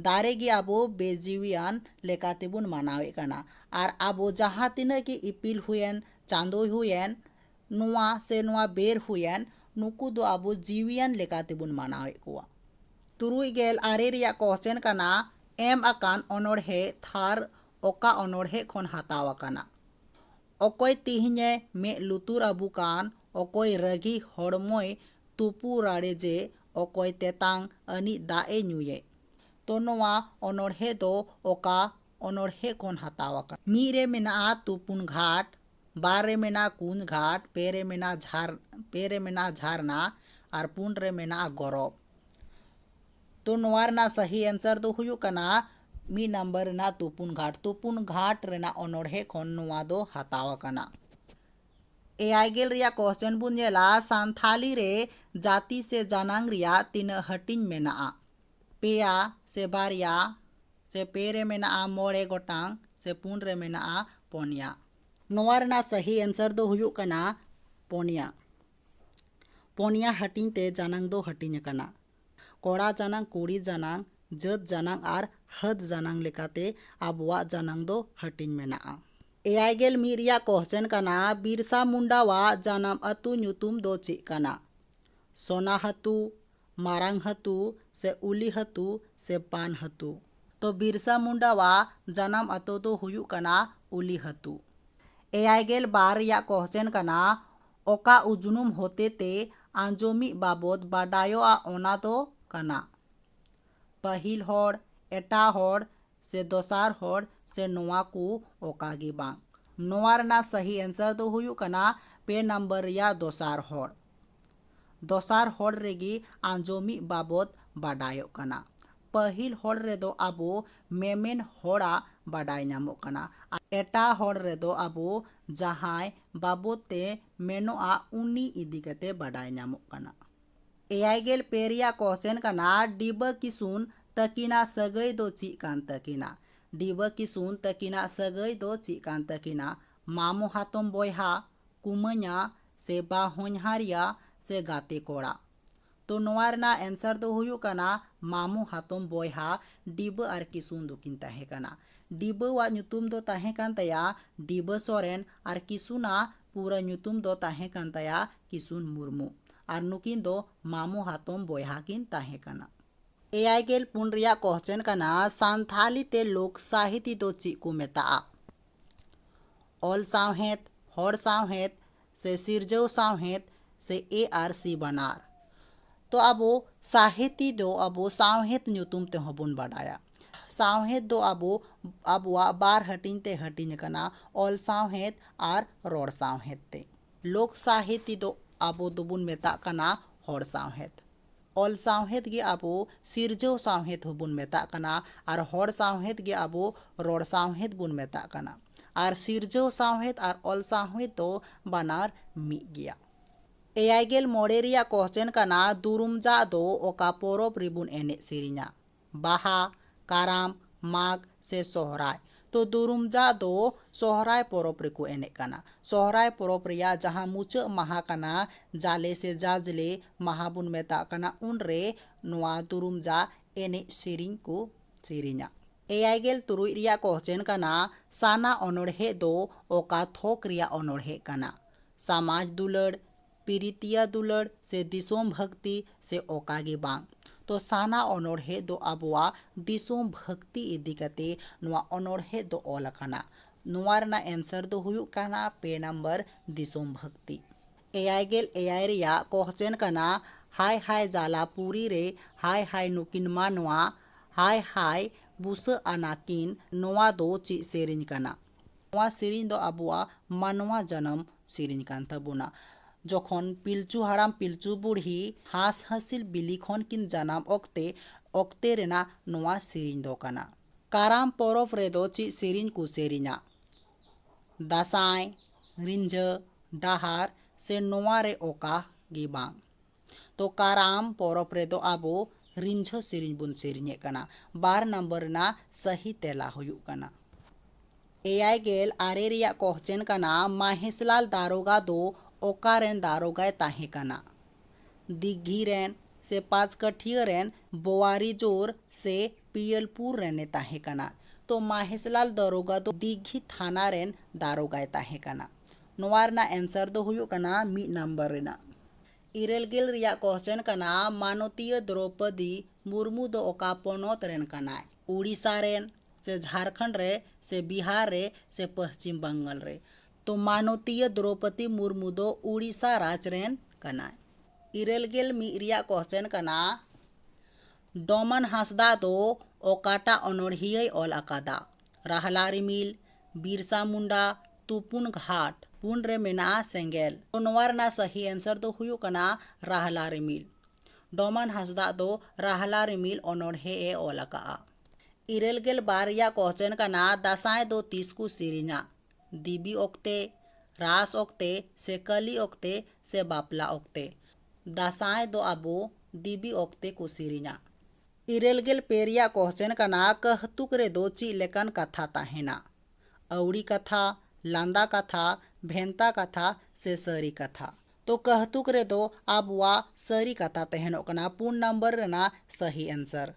ᱫᱟᱨᱮ ᱜᱮ ᱟᱵᱚ ᱵᱮᱼᱡᱤᱣᱤᱭᱟᱱ ᱞᱮᱠᱟ ᱛᱮᱵᱚᱱ ᱢᱟᱱᱟᱣᱮᱫ ᱠᱟᱱᱟ ᱟᱨ ᱟᱵᱚ ᱡᱟᱦᱟᱸ ᱛᱤᱱᱟᱹᱜ ᱜᱮ ᱤᱯᱤᱞ ᱦᱩᱭᱮᱱ ᱪᱟᱸᱫᱚᱭ ᱦᱩᱭᱮᱱ ᱱᱚᱣᱟ ᱥᱮ ᱱᱚᱣᱟ ᱵᱮᱨ ᱦᱩᱭᱮᱱ ᱱᱩᱠᱩ ᱫᱚ ᱟᱵᱚ ᱡᱤᱣᱤᱭᱟᱱ ᱞᱮᱠᱟ ᱛᱮᱵᱚᱱ ᱢᱟᱱᱟᱣᱮᱫ ᱠᱚᱣᱟ᱾ ᱛᱩᱨᱩᱭ ᱜᱮᱞ ᱟᱨᱮ ᱨᱮᱭᱟᱜ ᱠᱚᱣᱥᱪᱮᱱ ᱠᱟᱱᱟ ᱮᱢ ᱟᱠᱟᱱ ᱚᱱᱚᱬᱦᱮ ᱛᱷᱟᱨ ᱚᱠᱟ ᱚᱱᱚᱬᱦᱮ ᱠᱷᱚᱱ ᱦᱟᱛᱟᱣ ᱟᱠᱟᱱᱟ? ᱚᱠᱚᱭ ᱛᱤᱦᱤᱧᱮ ᱢᱮᱫ ᱞᱩᱛᱩᱨ ᱟᱵᱚ ᱠᱟᱱ ᱚᱠᱚᱭ ᱨᱟᱹᱜᱤ ᱦᱚᱲᱢᱚᱭ ᱛᱩᱯᱩ ᱨᱟᱲᱮ ᱡᱮ ᱚᱠᱚᱭ ᱛᱮᱛᱟᱝ ᱟᱹᱱᱤᱡ ᱫᱟᱜ ᱮ ᱧᱩᱭᱮᱫ᱾ ᱛᱚ ᱱᱚᱣᱟ ᱚᱱᱚᱬᱦᱮ ᱫᱚ ᱚᱠᱟ ᱚᱱᱚᱬᱦᱮ ᱠᱷᱚᱱ ᱦᱟᱛᱟᱣ ᱟᱠᱟᱱᱟ᱾ ᱢᱤᱫ ᱨᱮ ᱢᱮᱱᱟᱜᱼᱟ ᱛᱩᱯᱩᱱ ᱜᱷᱟᱴ, ᱵᱟᱨ ᱨᱮ ᱢᱮᱱᱟᱜᱼᱟ ᱠᱩᱸᱫᱽ ᱜᱷᱟᱴ, ᱯᱮ ᱨᱮ ᱢᱮᱱᱟᱜᱼᱟ ᱡᱷᱟᱨ ᱯᱮ ᱨᱮ ᱢᱮᱱᱟᱜᱼᱟ ᱡᱷᱟᱨᱱᱟ ᱟᱨ ᱯᱩᱱ ᱨᱮ ᱢᱮᱱᱟᱜᱼᱟ ᱜᱚᱨᱚᱵᱽ᱾ ᱛᱚ ᱱᱚᱣᱟ ᱨᱮᱱᱟᱜ ᱥᱟᱹᱦᱤ ᱮᱱᱥᱟᱨ ᱫᱚ ᱦᱩᱭᱩᱜ ᱠᱟᱱᱟ ᱢᱤᱫ ᱱᱟᱢᱵᱟᱨ ᱨᱮᱱᱟᱜ ᱛᱩᱯᱩᱱ ᱜᱷᱟᱴ᱾ ᱛᱩᱯᱩᱱ ᱜᱷᱟᱴ ᱨᱮᱱᱟᱜ ᱚᱱᱚᱬᱦᱮ ᱠᱷᱚᱱ ᱱᱚᱣᱟ ᱫᱚ ᱦᱟᱛᱟᱣ ᱟᱠᱟᱱᱟ᱾ ᱮᱭᱟᱭ ᱜᱮᱞ ᱨᱮᱭᱟᱜ ᱠᱚᱥᱪᱮᱱ ᱵᱚᱱ ᱧᱮᱞᱟ ᱥᱟᱱᱛᱷᱟᱞᱤ ᱨᱮ ᱡᱟᱹᱛᱤ ᱥᱮ ᱡᱟᱱᱟᱝ ᱨᱮᱭᱟᱜ ᱛᱤᱱᱟᱹᱜ ᱦᱟᱹᱴᱤᱧ ᱢᱮᱱᱟᱜᱼᱟ? ᱯᱮᱭᱟ ᱥᱮ ᱵᱟᱨᱭᱟ ᱥᱮ ᱯᱮ ᱨᱮ ᱢᱮᱱᱟᱜᱼᱟ ᱢᱚᱬᱮ ᱜᱚᱴᱟᱝ ᱥᱮ ᱯᱩᱱ ᱨᱮ ᱢᱮᱱᱟᱜᱼᱟ ᱯᱚᱱᱭᱟ ᱱᱚᱣᱟ ᱨᱮᱱᱟᱜ ᱥᱟᱹᱦᱤ ᱮᱱᱥᱟᱨ ᱫᱚ ᱦᱩᱭᱩᱜ ᱠᱟᱱᱟ ᱯᱚᱱᱭᱟ ᱯᱚᱱᱭᱟ ᱦᱟᱹᱴᱤᱧ ᱛᱮ ᱡᱟᱱᱟᱝ ᱫᱚ ᱦᱟᱹᱴᱤᱧ ᱟᱠᱟᱱᱟ ᱠᱚᱲᱟ ᱡᱟᱱᱟᱝ ᱠᱩᱲᱤ ᱡᱟᱱᱟᱝ ᱡᱟᱹᱛ ᱡᱟᱱᱟᱝ ᱟᱨ ᱦᱟᱹᱫ ᱡᱟᱱᱟᱝ ᱞᱮᱠᱟᱛᱮ ᱟᱵᱚᱣᱟᱜ ᱡᱟᱱᱟᱝ ᱫᱚ ᱦᱟᱹᱴᱤᱧ ᱢᱮᱱᱟᱜᱼᱟ ᱮᱭᱟᱭ ᱜᱮᱞ ᱢᱤᱫ ᱨᱮᱭᱟᱜ ᱠᱚᱦᱪᱮᱱ ᱠᱟᱱᱟ ᱵᱤᱨᱥᱟ ᱢᱩᱱᱰᱟᱣᱟᱜ ᱡᱟᱱᱟᱢ ᱟᱹᱛᱩ ᱧᱩᱛᱩᱢ ᱫᱚ ᱪᱮᱫ ᱠᱟᱱᱟ ᱥᱚᱱᱟᱦᱟᱹᱛᱩ ᱢᱟᱨᱟᱝ ᱦᱟᱹᱛᱩ ᱥᱮ ᱩᱞᱤ ᱦᱟᱹᱛᱩ ᱥᱮ ᱯᱟᱱ ᱦᱟᱹᱛᱩ᱾ ᱛᱚ ᱵᱤᱨᱥᱟ ᱢᱩᱱᱰᱟᱣᱟᱜ ᱡᱟᱱᱟᱢ ᱟᱛᱳ ᱫᱚ ᱦᱩᱭᱩᱜ ᱠᱟᱱᱟ ᱩᱞᱤ ᱦᱟᱹᱛᱩ᱾ ᱮᱭᱟᱭ ᱜᱮᱞ ᱵᱟᱨ ᱨᱮᱭᱟᱜ ᱠᱚᱦᱪᱮᱱ ᱠᱟᱱᱟ ᱚᱠᱟ ᱩᱡᱱᱩᱢ ᱦᱚᱛᱮᱛᱮ ᱟᱸᱡᱚᱢᱤᱡ ᱵᱟᱵᱚᱛ ᱵᱟᱰᱟᱭᱚᱜᱼᱟ ᱚᱱᱟ ᱫᱚ ᱠᱟᱱᱟ ᱯᱟᱹᱦᱤᱞ ᱦᱚᱲ, ᱮᱴᱟᱜ ᱦᱚᱲ ᱥᱮ ᱫᱚᱥᱟᱨ ᱦᱚᱲ ᱥᱮ ᱱᱚᱣᱟ ᱠᱚ ᱚᱠᱟ ᱜᱮ ᱵᱟᱝ᱾ ᱱᱚᱣᱟ ᱨᱮᱱᱟᱜ ᱥᱟᱹᱦᱤ ᱮᱱᱥᱟᱨ ᱫᱚ ᱦᱩᱭᱩᱜ ᱠᱟᱱᱟ ᱯᱮ ᱱᱟᱢᱵᱟᱨ ᱨᱮᱭᱟᱜ ᱫᱚᱥᱟᱨ ᱦᱚᱲ᱾ ᱫᱚᱥᱟᱨ ᱦᱚᱲ ᱨᱮᱜᱮ ᱟᱸᱡᱚᱢᱤᱡ ᱵᱟᱵᱚᱛ ᱵᱟᱰᱟᱭᱚᱜ ᱠᱟᱱᱟ᱾ ᱯᱟᱹᱦᱤᱞ ᱦᱚᱲ ᱨᱮᱫᱚ ᱟᱵᱚ ᱢᱮᱢᱮᱱ ᱦᱚᱲᱟᱜ ᱵᱟᱰᱟᱭ ᱧᱟᱢᱚᱜ ᱠᱟᱱᱟ ᱟᱨ ᱮᱴᱟᱜ ᱦᱚᱲ ᱨᱮᱫᱚ ᱟᱵᱚ ᱡᱟᱦᱟᱸᱭ ᱵᱟᱵᱚᱛ ᱛᱮ ᱢᱮᱱᱚᱜᱼᱟ ᱩᱱᱤ ᱤᱫᱤ ᱠᱟᱛᱮ ᱵᱟᱰᱟᱭ ᱧᱟᱢᱚᱜ ᱠᱟᱱᱟ᱾ ᱮᱭᱟᱭ ᱜᱮᱞ ᱯᱮ ᱨᱮᱭᱟᱜ ᱠᱚᱥᱪᱮᱱ ᱠᱟᱱᱟ ᱰᱤᱵᱟᱹ ᱠᱤᱥᱩᱱ ᱛᱟᱹᱠᱤᱱᱟᱜ ᱥᱟᱹᱜᱟᱹᱭ ᱫᱚ ᱪᱮᱫ ᱠᱟᱱ ᱛᱟᱹᱠᱤᱱᱟ? ᱰᱤᱵᱟᱹ ᱠᱤᱥᱩᱱ ᱛᱟᱹᱠᱤᱱᱟᱜ ᱥᱟᱹᱜᱟᱹᱭ ᱫᱚ ᱪᱮᱫ ᱠᱟᱱ ᱛᱟᱹᱠᱤᱱᱟ? ᱢᱟᱢᱚ ᱦᱟᱛᱚᱢ ᱵᱚᱭᱦᱟ, ᱠᱩᱢᱟᱹᱧᱟ ᱥᱮ ᱵᱟ ᱦᱚᱧᱦᱟᱨᱤᱭᱟ ᱥᱮ ᱜᱟᱛᱮ ᱠᱚᱲᱟ᱾ ᱛᱚ ᱱᱚᱣᱟ ᱨᱮᱱᱟᱜ ᱮᱱᱥᱟᱨ ᱫᱚ ᱦᱩᱭᱩᱜ ᱠᱟᱱᱟ ᱢᱟᱢᱚ ᱦᱟᱛᱚᱢ ᱵᱚᱭᱦᱟ ᱰᱤᱵᱟᱹ ᱟᱨ ᱠᱤᱥᱩᱱ ᱫᱚᱠᱤᱱ ᱛᱟᱦᱮᱸ ᱠᱟᱱᱟ᱾ ᱰᱤᱵᱟᱹ ᱣᱟᱜ ᱧᱩᱛᱩᱢ ᱫᱚ ᱛᱟᱦᱮᱸ ᱠᱟᱱ ᱛᱟᱭᱟ ᱰᱤᱵᱟᱹ ᱥᱚᱨᱮᱱ ᱟᱨ ᱠᱤᱥᱩᱱ ᱟᱜ ᱯᱩᱨᱟᱹ ᱧᱩᱛᱩᱢ ᱫᱚ ᱛᱟᱦᱮᱸ ᱠᱟᱱ ᱛᱟᱭᱟ ᱠᱤᱥᱩᱱ ᱢᱩᱨᱢᱩ ᱟᱨ ᱱᱩᱠᱤᱱ ᱫᱚ ᱢᱟᱢᱚ ᱦᱟᱛᱚᱢ ᱵᱚᱭᱦᱟ ᱠᱤᱱ ᱛᱟᱦᱮᱸ ᱠᱟᱱᱟ᱾ ᱮᱭᱟᱭ ᱜᱮᱞ ᱯᱩᱱ ᱨᱮᱭᱟᱜ ᱠᱚᱦᱪᱮᱱ ᱠᱟᱱᱟ ᱥᱟᱱᱛᱷᱟᱞᱤ ᱛᱮ ᱞᱳᱠ ᱥᱟᱦᱤᱛᱤ ᱫᱚ ᱪᱤᱜ ᱠᱚ ᱢᱮᱛᱟᱜᱼᱟ? ᱚᱞ ᱥᱟᱶᱦᱮᱫ, ᱦᱚᱲ ᱥᱟᱶᱦᱮᱫ ᱥᱮ ᱥᱤᱨᱡᱟᱹᱣ ᱥᱟᱶᱦᱮᱫ ᱥᱮ ᱮ ᱟᱨ ᱥᱤ ᱵᱟᱱᱟᱨ᱾ ᱛᱚ ᱟᱵᱚ ᱥᱟᱦᱮᱛᱤ ᱫᱚ ᱟᱵᱚ ᱥᱟᱶᱦᱮᱫ ᱧᱩᱛᱩᱢ ᱛᱮᱦᱚᱸ ᱵᱚᱱ ᱵᱟᱰᱟᱭᱟ᱾ ᱥᱟᱶᱦᱮᱫ ᱫᱚ ᱟᱵᱚ ᱟᱵᱚᱣᱟᱜ ᱵᱟᱨ ᱦᱟᱹᱴᱤᱧ ᱛᱮ ᱦᱟᱹᱴᱤᱧ ᱟᱠᱟᱱᱟ ᱚᱞ ᱥᱟᱶᱦᱮᱫ ᱟᱨ ᱨᱚᱲ ᱥᱟᱶᱦᱮᱫ ᱛᱮ᱾ ᱞᱳᱠ ᱥᱟᱦᱮᱛᱤ ᱫᱚ ᱟᱵᱚ ᱫᱚᱵᱚᱱ ᱢᱮᱛᱟᱜ ᱠᱟᱱᱟ ᱦᱚᱲ ᱥᱟᱶᱦᱮᱫ᱾ ᱚᱞ ᱥᱟᱶᱦᱮᱫ ᱜᱮ ᱟᱵᱚ ᱥᱤᱨᱡᱟᱹᱣ ᱥᱟᱶᱦᱮᱫ ᱦᱚᱸ ᱵᱚᱱ ᱢᱮᱛᱟᱜ ᱠᱟᱱᱟ ᱟᱨ ᱦᱚᱲ ᱥᱟᱶᱦᱮᱫ ᱜᱮ ᱟᱵᱚ ᱨᱚᱲ ᱥᱟᱶᱦᱮᱫ ᱵᱚᱱ ᱢᱮᱛᱟᱜ ᱠᱟᱱᱟ ᱟᱨ ᱥᱤᱨᱡᱟᱹᱣ ᱥᱟᱶᱦᱮᱫ ᱟᱨ ᱚᱞ ᱥᱟᱶᱦᱮᱫ ᱫᱚ ᱵᱟᱱᱟᱨ ᱢᱤᱫ ᱜᱮᱭᱟ᱾ ᱮᱭᱟᱭ ᱜᱮᱞ ᱢᱚᱬᱮ ᱨᱮᱭᱟᱜ ᱠᱚᱥᱪᱮᱱ ᱠᱟᱱᱟ ᱫᱩᱨᱩᱢᱡᱟᱜ ᱫᱚ ᱚᱠᱟ ᱯᱚᱨᱚᱵᱽ ᱨᱮᱵᱚᱱ ᱮᱱᱮᱡ ᱥᱮᱨᱮᱧᱟ? ᱵᱟᱦᱟ, ᱠᱟᱨᱟᱢ, ᱢᱟᱜᱽ ᱥᱮ ᱥᱚᱦᱨᱟᱭ᱾ ᱛᱚ ᱫᱩᱨᱩᱢᱡᱟ ᱫᱚ ᱥᱚᱦᱨᱟᱭ ᱯᱚᱨᱚᱵᱽ ᱨᱮᱠᱚ ᱮᱱᱮᱡ ᱠᱟᱱᱟ᱾ ᱥᱚᱦᱨᱟᱭ ᱯᱚᱨᱚᱵᱽ ᱨᱮᱭᱟᱜ ᱡᱟᱦᱟᱸ ᱢᱩᱪᱟᱹᱫ ᱢᱟᱦᱟᱸ ᱠᱟᱱᱟ ᱡᱟᱞᱮ ᱥᱮ ᱡᱟᱡᱽᱞᱮ ᱢᱟᱦᱟᱸ ᱵᱚᱱ ᱢᱮᱛᱟᱜ ᱠᱟᱱᱟ ᱩᱱ ᱨᱮ ᱱᱚᱶᱟ ᱫᱩᱨᱩᱢᱡᱟ ᱮᱱᱮᱡ ᱥᱮᱨᱮᱧ ᱠᱚ ᱥᱮᱨᱮᱧᱟ᱾ ᱮᱭᱟᱭ ᱜᱮᱞ ᱛᱩᱨᱩᱭ ᱨᱮᱭᱟᱜ ᱠᱚᱦᱪᱮᱱ ᱠᱟᱱᱟ ᱥᱟᱱᱟ ᱚᱱᱚᱬᱦᱮᱸ ᱫᱚ ᱚᱠᱟ ᱛᱷᱚᱠ ᱨᱮᱭᱟᱜ ᱚᱱᱚᱬᱦᱮᱸ ᱠᱟᱱᱟ? ᱥᱟᱢᱟᱡᱽ ᱫᱩᱞᱟᱹᱲ᱾ ᱯᱤᱨᱤᱛᱤᱭᱟ ᱫᱩᱞᱟᱹᱲ ᱥᱮ ᱫᱤᱥᱚᱢ ᱵᱷᱟᱹᱠᱛᱤ ᱥᱮ ᱚᱠᱟ ᱜᱮ ᱵᱟᱝ᱾ ᱛᱚ ᱥᱟᱱᱟ ᱚᱱᱚᱬᱦᱮᱸ ᱫᱚ ᱟᱵᱚᱣᱟᱜ ᱫᱤᱥᱚᱢ ᱵᱷᱟᱹᱠᱛᱤ ᱤᱫᱤ ᱠᱟᱛᱮ ᱱᱚᱣᱟ ᱚᱱᱚᱬᱦᱮᱸ ᱫᱚ ᱚᱞ ᱟᱠᱟᱱᱟ᱾ ᱱᱚᱣᱟ ᱨᱮᱱᱟᱜ ᱮᱱᱥᱟᱨ ᱫᱚ ᱦᱩᱭᱩᱜ ᱠᱟᱱᱟ ᱯᱮ ᱱᱟᱢᱵᱟᱨ ᱫᱤᱥᱚᱢ ᱵᱷᱟᱹᱠᱛᱤ᱾ ᱮᱭᱟᱭ ᱜᱮᱞ ᱮᱭᱟᱭ ᱨᱮᱭᱟᱜ ᱠᱚᱦᱪᱮᱱ ᱠᱟᱱᱟ ᱦᱟᱭ ᱦᱟᱭ ᱡᱟᱞᱟ ᱯᱩᱨᱤ ᱨᱮ ᱦᱟᱭ ᱦᱟᱭ ᱱᱩᱠᱤᱱ ᱢᱟᱱᱣᱟ ᱦᱟᱭ ᱦᱟᱭ ᱵᱩᱥᱟᱹᱜ ᱟᱱᱟ ᱠᱤᱱ ᱱᱚᱣᱟ ᱫᱚ ᱪᱮᱫ ᱥᱮᱨᱮᱧ ᱠᱟᱱᱟ? ᱱᱚᱣᱟ ᱥᱮᱨᱮᱧ ᱫᱚ ᱟᱵᱚᱣᱟᱜ ᱢᱟᱱᱣᱟ ᱡᱟᱱᱟᱢ ᱥᱮᱨᱮᱧ ᱠᱟᱱ ᱛᱟᱵᱚᱱᱟ᱾ ᱡᱚᱠᱷᱚᱱ ᱯᱤᱞᱪᱩ ᱦᱟᱲᱟᱢ ᱯᱤᱞᱪᱩ ᱵᱩᱲᱦᱤ ᱦᱟᱸᱥ ᱦᱟᱸᱥᱤᱞ ᱵᱤᱞᱤ ᱠᱷᱚᱱ ᱠᱤᱱ ᱡᱟᱱᱟᱢ ᱚᱠᱛᱮ ᱚᱠᱛᱮ ᱨᱮᱱᱟᱜ ᱱᱚᱣᱟ ᱥᱮᱨᱮᱧ ᱫᱚ ᱠᱟᱱᱟ᱾ ᱠᱟᱨᱟᱢ ᱯᱚᱨᱚᱵᱽ ᱨᱮᱫᱚ ᱪᱮᱫ ᱥᱮᱨᱮᱧ ᱠᱚ ᱥᱮᱨᱮᱧᱟ? ᱫᱟᱸᱥᱟᱭ, ᱨᱤᱸᱡᱷᱟᱹ, ᱰᱟᱦᱟᱨ ᱥᱮ ᱱᱚᱣᱟ ᱨᱮ ᱚᱠᱟ ᱜᱮ ᱵᱟᱝ᱾ ᱛᱚ ᱠᱟᱨᱟᱢ ᱯᱚᱨᱚᱵᱽ ᱨᱮᱫᱚ ᱟᱵᱚ ᱨᱤᱸᱡᱷᱟᱹ ᱥᱮᱨᱮᱧ ᱵᱚᱱ ᱥᱮᱨᱮᱧᱮᱫ ᱠᱟᱱᱟ ᱵᱟᱨ ᱱᱟᱢᱵᱟᱨ ᱨᱮᱱᱟᱜ ᱥᱟᱹᱦᱤ ᱛᱮᱞᱟ ᱦᱩᱭᱩᱜ ᱠᱟᱱᱟ ᱮᱭᱟᱭ ᱜᱮᱞ ᱟᱨᱮ ᱨᱮᱭᱟᱜ ᱠᱚᱦᱪᱮᱱ ᱠᱟᱱᱟ ᱢᱟᱦᱮᱥᱞᱟᱞ ᱫᱟᱨᱳᱜᱟ ᱫᱚ ᱚᱠᱟ ᱨᱮᱱ ᱫᱟᱨᱳᱜᱟᱭ ᱛᱟᱦᱮᱸ ᱠᱟᱱᱟ ᱫᱤᱜᱷᱤ ᱨᱮᱱ ᱥᱮ ᱯᱟᱸᱪᱠᱟᱹᱴᱷᱤᱭᱟᱹ ᱨᱮᱱ ᱵᱚᱣᱟᱨᱤᱡᱳᱨ ᱥᱮ ᱯᱤᱭᱟᱞᱯᱩᱨ ᱨᱮᱱᱮ ᱛᱟᱦᱮᱸ ᱠᱟᱱᱟ ᱛᱚ ᱢᱟᱦᱮᱥᱞᱟᱞ ᱫᱟᱨᱳᱜᱟ ᱫᱚ ᱫᱤᱜᱷᱤ ᱛᱷᱟᱱᱟ ᱨᱮᱱ ᱫᱟᱨᱳᱜᱟᱭ ᱛᱟᱦᱮᱸ ᱠᱟᱱᱟ ᱱᱚᱣᱟ ᱨᱮᱱᱟᱜ ᱮᱱᱥᱟᱨ ᱫᱚ ᱦᱩᱭᱩᱜ ᱠᱟᱱᱟ ᱢᱤᱫ ᱱᱟᱢᱵᱟᱨ ᱨᱮᱱᱟᱜ ᱤᱨᱟᱹᱞ ᱜᱮᱞ ᱨᱮᱭᱟᱜ ᱠᱚᱥᱪᱮᱱ ᱠᱟᱱᱟ ᱢᱟᱱᱚᱛᱤᱭᱟᱹ ᱫᱨᱳᱣᱯᱚᱫᱤ ᱢᱩᱨᱢᱩ ᱫᱚ ᱚᱠᱟ ᱯᱚᱱᱚᱛ ᱨᱮᱱ ᱠᱟᱱᱟᱭ ᱳᱰᱤᱥᱟ ᱨᱮᱱ ᱥᱮ ᱡᱷᱟᱲᱠᱷᱚᱸᱰ ᱨᱮ ᱥᱮ ᱵᱤᱦᱟᱨ ᱨᱮ ᱥᱮ ᱯᱚᱥᱪᱤᱢ ᱵᱟᱝᱜᱟᱞ ᱨᱮ ᱛᱚ ᱢᱟᱱᱚᱛᱤᱭᱟᱹ ᱫᱨᱳᱣᱯᱚᱫᱤ ᱢᱩᱨᱢᱩ ᱫᱚ ᱳᱰᱤᱥᱟ ᱨᱟᱡᱽ ᱨᱮᱱ ᱠᱟᱱᱟᱭ ᱤᱨᱟᱹᱞ ᱜᱮᱞ ᱢᱤᱫ ᱨᱮᱭᱟᱜ ᱠᱚᱥᱪᱮᱱ ᱠᱟᱱᱟ ᱰᱚᱢᱟᱱ ᱦᱟᱸᱥᱫᱟ ᱫᱚ ᱚᱠᱟᱴᱟᱜ ᱚᱱᱚᱬᱦᱤᱭᱟᱹᱭ ᱚᱞ ᱟᱠᱟᱫᱟ ᱨᱟᱦᱞᱟ ᱨᱤᱢᱤᱞ ᱵᱤᱨᱥᱟ ᱢᱩᱱᱰᱟ ᱛᱩᱯᱩᱱ ᱜᱷᱟᱴ ᱯᱩᱱ ᱨᱮ ᱢᱮᱱᱟᱜᱼᱟ ᱥᱮᱸᱜᱮᱞ ᱛᱚ ᱱᱚᱣᱟ ᱨᱮᱱᱟᱜ ᱥᱟᱹᱦᱤ ᱮᱱᱥᱟᱨ ᱫᱚ ᱦᱩᱭᱩᱜ ᱠᱟᱱᱟ ᱨᱟᱦᱞᱟ ᱨᱤᱢᱤᱞ ᱰᱚᱢᱟᱱ ᱦᱟᱸᱥᱫᱟ ᱫᱚ ᱨᱟᱦᱞᱟ ᱨᱤᱢᱤᱞ ᱚᱱᱚᱬᱦᱮ ᱮ ᱚᱞ ᱟᱠᱟᱫᱼᱟ ᱤᱨᱟᱹᱞ ᱜᱮᱞ ᱵᱟᱨ ᱨᱮᱭᱟᱜ ᱠᱚᱥᱪᱮᱱ ᱠᱟᱱᱟ ᱫᱟᱸᱥᱟᱭ ᱫᱚ ᱛᱤᱥ ᱠᱚ ᱥᱮᱨᱮᱧᱟ ᱫᱮᱵᱤ ᱚᱠᱛᱮ ᱨᱟᱥ ᱚᱠᱛᱮ ᱥᱮ ᱠᱟᱹᱞᱤ ᱚᱠᱛᱮ ᱥᱮ ᱵᱟᱯᱞᱟ ᱚᱠᱛᱮ ᱫᱟᱸᱥᱟᱭ ᱫᱚ ᱟᱵᱚ ᱫᱮᱵᱤ ᱚᱠᱛᱮ ᱠᱚ ᱥᱮᱨᱮᱧᱟ ᱤᱨᱟᱹᱞ ᱜᱮᱞ ᱯᱮ ᱨᱮᱭᱟᱜ ᱠᱚᱦᱪᱮᱱ ᱠᱟᱱᱟ ᱠᱟᱹᱦᱛᱩᱠ ᱨᱮᱫᱚ ᱪᱮᱫ ᱞᱮᱠᱟᱱ ᱠᱟᱛᱷᱟ ᱛᱟᱦᱮᱱᱟ ᱟᱹᱣᱲᱤ ᱠᱟᱛᱷᱟ ᱞᱟᱸᱫᱟ ᱠᱟᱛᱷᱟ ᱵᱷᱮᱱᱛᱟ ᱠᱟᱛᱷᱟ ᱥᱮ ᱥᱟᱹᱨᱤ ᱠᱟᱛᱷᱟ ᱛᱚ ᱠᱟᱹᱦᱛᱩᱠ ᱨᱮᱫᱚ ᱟᱵᱚᱣᱟᱜ ᱥᱟᱹᱨᱤ ᱠᱟᱛᱷᱟ ᱛᱟᱦᱮᱱᱚᱜ ᱠᱟᱱᱟ ᱯᱩᱱ ᱱᱟᱢᱵᱟᱨ ᱨᱮᱱᱟᱜ ᱥᱟᱹᱦᱤ ᱮᱱᱥᱟᱨ᱾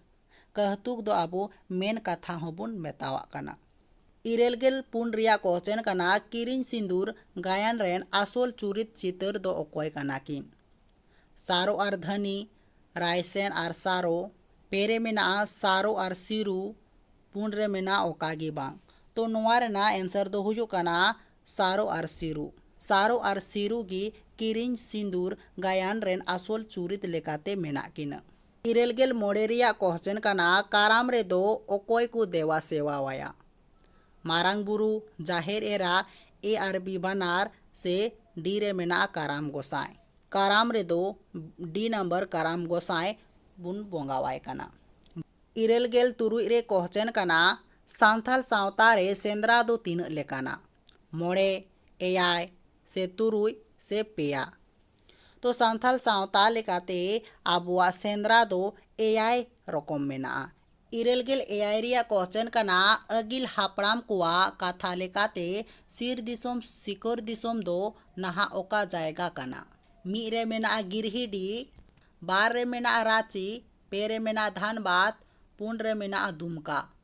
ᱠᱟᱹᱦᱛᱩᱠ ᱫᱚ ᱟᱵᱚ ᱢᱮᱱ ᱠᱟᱛᱷᱟ ᱦᱚᱸ ᱵᱚᱱ ᱢᱮᱛᱟᱣᱟᱜ ᱠᱟᱱᱟ᱾ ᱤᱨᱟᱹᱞ ᱜᱮᱞ ᱯᱩᱱ ᱨᱮᱭᱟᱜ ᱠᱚᱥᱪᱮᱱ ᱠᱟᱱᱟ ᱠᱤᱨᱤᱧ ᱥᱤᱸᱫᱩᱨ ᱜᱟᱭᱟᱱ ᱨᱮᱱ ᱟᱥᱚᱞ ᱪᱩᱨᱤᱛ ᱪᱤᱛᱟᱹᱨ ᱫᱚ ᱚᱠᱚᱭ ᱠᱟᱱᱟ ᱠᱤᱱ? ᱥᱟᱨᱚ ᱟᱨ ᱫᱷᱟᱹᱱᱤ, ᱨᱟᱭᱥᱮᱱ ᱟᱨ ᱥᱟᱨᱚ, ᱯᱮ ᱨᱮ ᱢᱮᱱᱟᱜᱼᱟ ᱥᱟᱨᱚ ᱟᱨ ᱥᱤᱨᱩ, ᱯᱩᱱ ᱨᱮ ᱢᱮᱱᱟᱜᱼᱟ ᱚᱠᱟ ᱜᱮ ᱵᱟᱝ᱾ ᱛᱚ ᱱᱚᱶᱟ ᱨᱮᱱᱟᱜ ᱮᱱᱥᱟᱨ ᱫᱚ ᱦᱩᱭᱩᱜ ᱠᱟᱱᱟ ᱥᱟᱨᱚ ᱟᱨ ᱥᱤᱨᱩ᱾ ᱥᱟᱨᱚ ᱟᱨ ᱥᱤᱨᱩ ᱜᱮ ᱠᱤᱨᱤᱧ ᱥᱤᱸᱫᱩᱨ ᱜᱟᱭᱟᱱ ᱨᱮᱱ ᱟᱥᱚᱞ ᱪᱩᱨᱤᱛ ᱞᱮᱠᱟᱛᱮ ᱢᱮᱱᱟᱜ ᱠᱤᱱᱟ᱾ ᱤᱨᱟᱹᱞ ᱜᱮᱞ ᱢᱚᱬᱮ ᱨᱮᱭᱟᱜ ᱠᱚᱦᱪᱮᱱ ᱠᱟᱱᱟ ᱠᱟᱨᱟᱢ ᱨᱮᱫᱚ ᱚᱠᱚᱭ ᱠᱚ ᱫᱮᱣᱟ ᱥᱮᱣᱟ ᱟᱭᱟ? ᱢᱟᱨᱟᱝ ᱵᱩᱨᱩ, ᱡᱟᱦᱮᱨ ᱮᱨᱟ, ᱮ ᱟᱨ ᱵᱤ ᱵᱟᱱᱟᱨ ᱥᱮ ᱰᱤ ᱨᱮ ᱢᱮᱱᱟᱜᱼᱟ ᱠᱟᱨᱟᱢ ᱜᱚᱸᱥᱟᱭ᱾ ᱠᱟᱨᱟᱢ ᱨᱮᱫᱚ ᱰᱤ ᱱᱟᱢᱵᱟᱨ ᱠᱟᱨᱟᱢ ᱜᱚᱸᱥᱟᱭ ᱵᱚᱱ ᱵᱚᱸᱜᱟ ᱟᱭ ᱠᱟᱱᱟ᱾ ᱤᱨᱟᱹᱞ ᱜᱮᱞ ᱛᱩᱨᱩᱭ ᱨᱮ ᱠᱚᱦᱪᱮᱱ ᱠᱟᱱᱟ ᱥᱟᱱᱛᱷᱟᱞ ᱥᱟᱶᱛᱟ ᱨᱮ ᱥᱮᱸᱫᱽᱨᱟ ᱫᱚ ᱛᱤᱱᱟᱹᱜ ᱞᱮᱠᱟᱱᱟ? ᱢᱚᱬᱮ ᱮᱭᱟᱭ ᱥᱮ ᱛᱩᱨᱩᱭ ᱥᱮ ᱯᱮᱭᱟ ᱛᱚ ᱥᱟᱱᱛᱟᱲ ᱥᱟᱶᱛᱟ ᱞᱮᱠᱟᱛᱮ ᱟᱵᱚᱣᱟᱜ ᱥᱮᱸᱫᱽᱨᱟ ᱫᱚ ᱮᱭᱟᱭ ᱨᱚᱠᱚᱢ ᱢᱮᱱᱟᱜᱼᱟ ᱤᱨᱟᱹᱞ ᱜᱮᱞ ᱮᱭᱟᱭ ᱨᱮᱭᱟᱜ ᱠᱚᱥᱪᱮᱱ ᱠᱟᱱᱟ ᱟᱹᱜᱤᱞ ᱦᱟᱯᱲᱟᱢ ᱠᱚᱣᱟᱜ ᱠᱟᱛᱷᱟ ᱞᱮᱠᱟᱛᱮ ᱥᱤᱨ ᱫᱤᱥᱚᱢ ᱥᱤᱠᱟᱹᱨ ᱫᱤᱥᱚᱢ ᱫᱚ ᱱᱟᱦᱟᱜ ᱚᱠᱟ ᱡᱟᱭᱜᱟ ᱠᱟᱱᱟ ᱢᱤᱫ ᱨᱮ ᱢᱮᱱᱟᱜᱼᱟ ᱜᱤᱨᱦᱤᱰᱤ ᱵᱟᱨ ᱨᱮ ᱢᱮᱱᱟᱜᱼᱟ ᱨᱟᱺᱪᱤ ᱯᱮ ᱨᱮ ᱢᱮᱱᱟᱜᱼᱟ ᱫᱷᱟᱱᱵᱟᱫᱽ ᱯᱩᱱ ᱨᱮ ᱢᱮᱱᱟᱜᱼᱟ ᱫᱩᱢᱠᱟ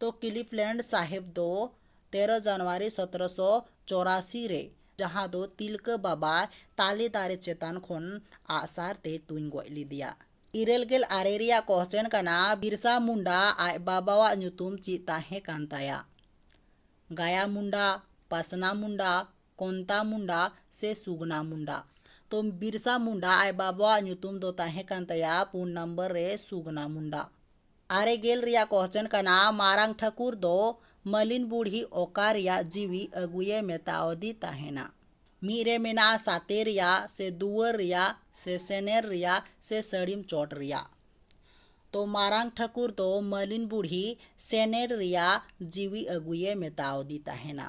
ᱛᱚ ᱠᱤᱞᱤᱯᱷᱞᱮᱱᱰ ᱥᱟᱦᱮᱵᱽ ᱫᱚ ᱛᱮᱨᱚ ᱡᱟᱱᱩᱣᱟᱨᱤ ᱥᱚᱛᱨᱚ ᱥᱚ ᱪᱚᱨᱟᱥᱤ ᱨᱮ ᱡᱟᱦᱟᱸ ᱫᱚ ᱛᱤᱞᱠᱟᱹ ᱵᱟᱵᱟ ᱛᱟᱞᱮ ᱫᱟᱨᱮ ᱪᱮᱛᱟᱱ ᱠᱷᱚᱱ ᱟᱜᱼᱥᱟᱨ ᱛᱮᱭ ᱛᱩᱧ ᱜᱚᱡ ᱞᱮᱫᱮᱭᱟ᱾ ᱤᱨᱟᱹᱞ ᱜᱮᱞ ᱟᱨᱮ ᱨᱮᱭᱟᱜ ᱠᱚᱦᱪᱮᱱ ᱠᱟᱱᱟ ᱵᱤᱨᱥᱟ ᱢᱩᱱᱰᱟ ᱟᱡ ᱵᱟᱵᱟᱣᱟᱜ ᱧᱩᱛᱩᱢ ᱪᱮᱫ ᱛᱟᱦᱮᱸ ᱠᱟᱱ ᱛᱟᱭᱟ? ᱜᱟᱭᱟ ᱢᱩᱱᱰᱟ, ᱯᱟᱥᱱᱟ ᱢᱩᱱᱰᱟ, ᱠᱚᱱᱛᱟ ᱢᱩᱱᱰᱟ ᱥᱮ ᱥᱩᱜᱽᱱᱟ ᱢᱩᱱᱰᱟ᱾ ᱛᱚ ᱵᱤᱨᱥᱟ ᱢᱩᱱᱰᱟ ᱟᱡ ᱵᱟᱵᱟᱣᱟᱜ ᱧᱩᱛᱩᱢ ᱫᱚ ᱛᱟᱦᱮᱸ ᱠᱟᱱ ᱛᱟᱭᱟ ᱯᱩᱱ ᱱᱚᱢᱵᱚᱨ ᱨᱮ ᱥᱩᱜᱽᱱᱟ ᱢᱩᱱᱰᱟ᱾ ᱟᱨᱮ ᱜᱮᱞ ᱨᱮᱭᱟᱜ ᱠᱚᱦᱪᱚᱱ ᱠᱟᱱᱟ ᱢᱟᱨᱟᱝ ᱴᱷᱟᱹᱠᱩᱨ ᱫᱚ ᱢᱟᱹᱞᱤᱱ ᱵᱩᱲᱦᱤ ᱚᱠᱟ ᱨᱮᱭᱟᱜ ᱡᱤᱣᱤ ᱟᱹᱜᱩᱭᱮ ᱢᱮᱛᱟᱣᱟᱫᱮ ᱛᱟᱦᱮᱸᱱᱟ᱾ ᱢᱤᱫ ᱨᱮ ᱢᱮᱱᱟᱜᱼᱟ ᱥᱟᱛᱮ ᱨᱮᱭᱟᱜ ᱥᱮ ᱫᱩᱣᱟᱹᱨ ᱨᱮᱭᱟᱜ ᱥᱮ ᱥᱮᱱᱮᱨ ᱨᱮᱭᱟᱜ ᱥᱮ ᱥᱟᱹᱲᱤᱢ ᱪᱚᱴ ᱨᱮᱭᱟᱜ᱾ ᱛᱚ ᱢᱟᱨᱟᱝ ᱴᱷᱟᱹᱠᱩᱨ ᱫᱚ ᱢᱟᱹᱞᱤᱱ ᱵᱩᱲᱦᱤ ᱥᱮᱱᱮᱨ ᱨᱮᱭᱟᱜ ᱡᱤᱣᱤ ᱟᱹᱜᱩᱭᱮ ᱢᱮᱛᱟᱣᱟᱫᱮ ᱛᱟᱦᱮᱸᱱᱟ᱾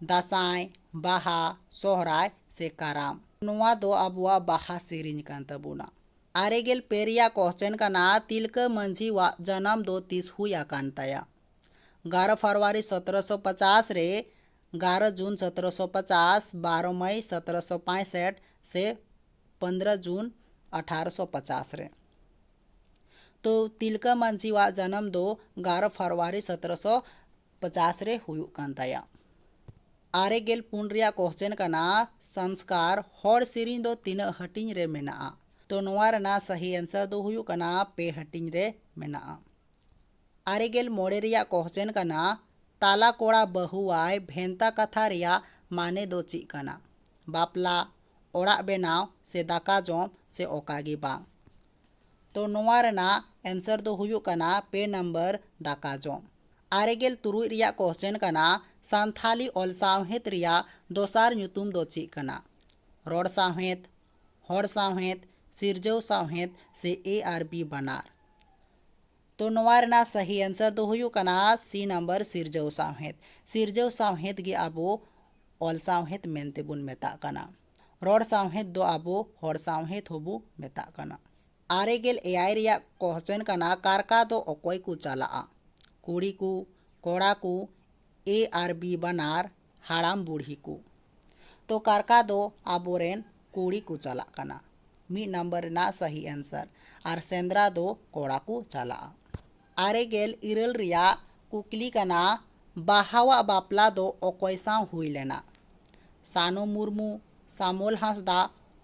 ᱫᱟᱸᱥᱟᱭ, ᱵᱟᱦᱟ, ᱥᱚᱦᱨᱟᱭ ᱥᱮ ᱠᱟᱨᱟᱢ᱾ ᱱᱚᱣᱟ ᱫᱚ ᱟᱵᱚᱣᱟᱜ ᱵᱟᱦᱟ ᱥᱮᱨᱮᱧ ᱠᱟᱱ ᱛᱟᱵᱚᱱᱟ᱾ ᱟᱨᱮ ᱜᱮᱞ ᱯᱮ ᱨᱮᱭᱟᱜ ᱠᱚᱦᱪᱮᱱ ᱠᱟᱱᱟ ᱛᱤᱞᱠᱟᱹ ᱢᱟᱹᱡᱷᱤ ᱣᱟᱜ ᱡᱟᱱᱟᱢ ᱫᱚ ᱛᱤᱥ ᱦᱩᱭ ᱟᱠᱟᱱ ᱛᱟᱭᱟ? ᱜᱟᱨᱚ ᱯᱷᱟᱨᱣᱟᱨᱤ ᱥᱚᱛᱨᱚ ᱥᱚ ᱯᱟᱪᱟᱥ ᱨᱮ, ᱜᱟᱨᱚ ᱡᱩᱱ ᱥᱚᱛᱨᱚ ᱥᱚ ᱯᱟᱪᱟᱥ, ᱵᱟᱨᱚ ᱢᱟᱹᱭ ᱥᱚᱛᱨᱚ ᱥᱚ ᱯᱟᱸᱭᱥᱮᱴ ᱥᱮ ᱯᱚᱱᱫᱽᱨᱚ ᱡᱩᱱ ᱟᱴᱷᱟᱨᱚ ᱥᱚ ᱯᱟᱪᱟᱥ ᱨᱮ? ᱛᱚ ᱛᱤᱞᱠᱟᱹ ᱢᱟᱹᱡᱷᱤ ᱣᱟᱜ ᱡᱟᱱᱟᱢ ᱫᱚ ᱜᱟᱨᱚ ᱯᱷᱟᱨᱣᱟᱨᱤ ᱥᱚᱛᱨᱚ ᱥᱚ ᱯᱚᱪᱟᱥ ᱨᱮ ᱦᱩᱭᱩᱜ ᱠᱟᱱ ᱛᱟᱭᱟ᱾ ᱟᱨᱮ ᱜᱮᱞ ᱯᱩᱱ ᱨᱮᱭᱟᱜ ᱠᱚᱦᱪᱮᱱ ᱠᱟᱱᱟ ᱥᱟᱱᱥᱠᱟᱨ ᱦᱚᱲ ᱥᱮᱨᱮᱧ ᱫᱚ ᱛᱤᱱᱟᱹᱜ ᱦᱟᱹᱴᱤᱧ ᱨᱮ ᱢᱮᱱᱟᱜᱼᱟ? ᱛᱚ ᱱᱚᱣᱟ ᱨᱮᱱᱟᱜ ᱥᱟᱦᱤ ᱮᱱᱥᱟᱨ ᱫᱚ ᱦᱩᱭᱩᱜ ᱠᱟᱱᱟ ᱯᱮ ᱦᱟᱹᱴᱤᱧ ᱨᱮ ᱢᱮᱱᱟᱜᱼᱟ᱾ ᱟᱨᱮ ᱜᱮᱞ ᱢᱚᱬᱮ ᱨᱮᱭᱟᱜ ᱠᱚᱦᱪᱮᱱ ᱠᱟᱱᱟ ᱛᱟᱞᱟ ᱠᱚᱲᱟ ᱵᱟᱹᱦᱩᱣᱟᱭ ᱵᱷᱮᱱᱛᱟ ᱠᱟᱛᱷᱟ ᱨᱮᱭᱟᱜ ᱢᱟᱱᱮ ᱫᱚ ᱪᱮᱫ ᱠᱟᱱᱟ? ᱵᱟᱯᱞᱟ, ᱚᱲᱟᱜ ᱵᱮᱱᱟᱣ ᱥᱮ ᱫᱟᱠᱟ ᱡᱚᱢ ᱥᱮ ᱚᱠᱟ ᱜᱮ ᱵᱟᱝ? ᱛᱚ ᱱᱚᱣᱟ ᱨᱮᱱᱟᱜ ᱮᱱᱥᱟᱨ ᱫᱚ ᱦᱩᱭᱩᱜ ᱠᱟᱱᱟ ᱯᱮ ᱱᱟᱢᱵᱟᱨ ᱫᱟᱠᱟ ᱡᱚᱢ ᱟᱨᱮ ᱜᱮᱞ ᱛᱩᱨᱩᱭ ᱨᱮᱭᱟᱜ ᱠᱚᱥᱪᱮᱱ ᱠᱟᱱᱟ ᱥᱟᱱᱛᱷᱟᱞᱤ ᱚᱞ ᱥᱟᱶᱦᱮᱫ ᱨᱮᱭᱟᱜ ᱫᱚᱥᱟᱨ ᱧᱩᱛᱩᱢ ᱫᱚ ᱪᱮᱫ ᱠᱟᱱᱟ ᱨᱚᱲ ᱥᱟᱶᱦᱮᱫ ᱦᱚᱲ ᱥᱟᱶᱦᱮᱫ ᱥᱤᱨᱡᱟᱹᱣ ᱥᱟᱶᱦᱮᱫ ᱥᱮ ᱮ ᱟᱨ ᱵᱤ ᱵᱟᱱᱟᱨ ᱛᱚ ᱱᱚᱣᱟ ᱨᱮᱱᱟᱜ ᱥᱟᱹᱦᱤ ᱟᱱᱥᱟᱨ ᱫᱚ ᱦᱩᱭᱩᱜ ᱠᱟᱱᱟ ᱥᱤ ᱱᱟᱢᱵᱟᱨ ᱥᱤᱨᱡᱟᱹᱣ ᱥᱟᱶᱦᱮᱫ ᱥᱤᱨᱡᱟᱹᱣ ᱥᱟᱶᱦᱮᱫ ᱜᱮ ᱟᱵᱚ ᱚᱞ ᱥᱟᱶᱦᱮᱫ ᱢᱮᱱᱛᱮ ᱵᱚᱱ ᱢᱮᱛᱟᱜ ᱠᱟᱱᱟ ᱨᱚᱲ ᱥᱟᱶᱦᱮᱫ ᱫᱚ ᱟᱵᱚ ᱦᱚᱲ ᱥᱟᱶᱦᱮᱫ ᱦᱚᱸᱵᱚ ᱢᱮᱛᱟᱜ ᱠᱟᱱᱟ ᱟᱨᱮ ᱜᱮᱞ ᱮᱭᱟᱭ ᱨᱮᱭᱟᱜ ᱠᱚᱥᱪᱮᱱ ᱠᱟᱱᱟ ᱠᱟᱨᱠᱟ ᱫᱚ ᱚᱠᱚᱭ ᱠᱚ ᱪᱟᱞᱟᱜᱼᱟ ᱠᱩᱲᱤ ᱠᱚ ᱠᱚᱲᱟ ᱠᱚ ᱮ ᱟᱨ ᱵᱤ ᱵᱟᱱᱟᱨ ᱦᱟᱲᱟᱢ ᱵᱩᱲᱦᱤ ᱠᱚ ᱛᱚ ᱠᱟᱨᱠᱟ ᱫᱚ ᱟᱵᱚ ᱨᱮᱱ ᱠᱩᱲᱤ ᱠᱚ ᱪᱟᱞᱟᱜ ᱠᱟᱱᱟ ᱢᱤᱫ ᱱᱟᱢᱵᱟᱨ ᱨᱮᱱᱟᱜ ᱥᱟᱹᱦᱤ ᱮᱱᱥᱟᱨ ᱟᱨ ᱥᱮᱸᱫᱽᱨᱟ ᱫᱚ ᱠᱚᱲᱟ ᱠᱚ ᱪᱟᱞᱟᱜᱼᱟ ᱟᱨᱮ ᱜᱮᱞ ᱤᱨᱟᱹᱞ ᱨᱮᱭᱟᱜ ᱠᱩᱠᱞᱤ ᱠᱟᱱᱟ ᱵᱟᱦᱟᱣᱟᱜ ᱵᱟᱯᱞᱟ ᱫᱚ ᱚᱠᱚᱭ ᱥᱟᱶ ᱦᱩᱭ ᱞᱮᱱᱟ ᱥᱟᱱᱩ ᱢᱩᱨᱢᱩ ᱥᱟᱢᱩᱞ ᱦᱟᱸᱥᱫᱟ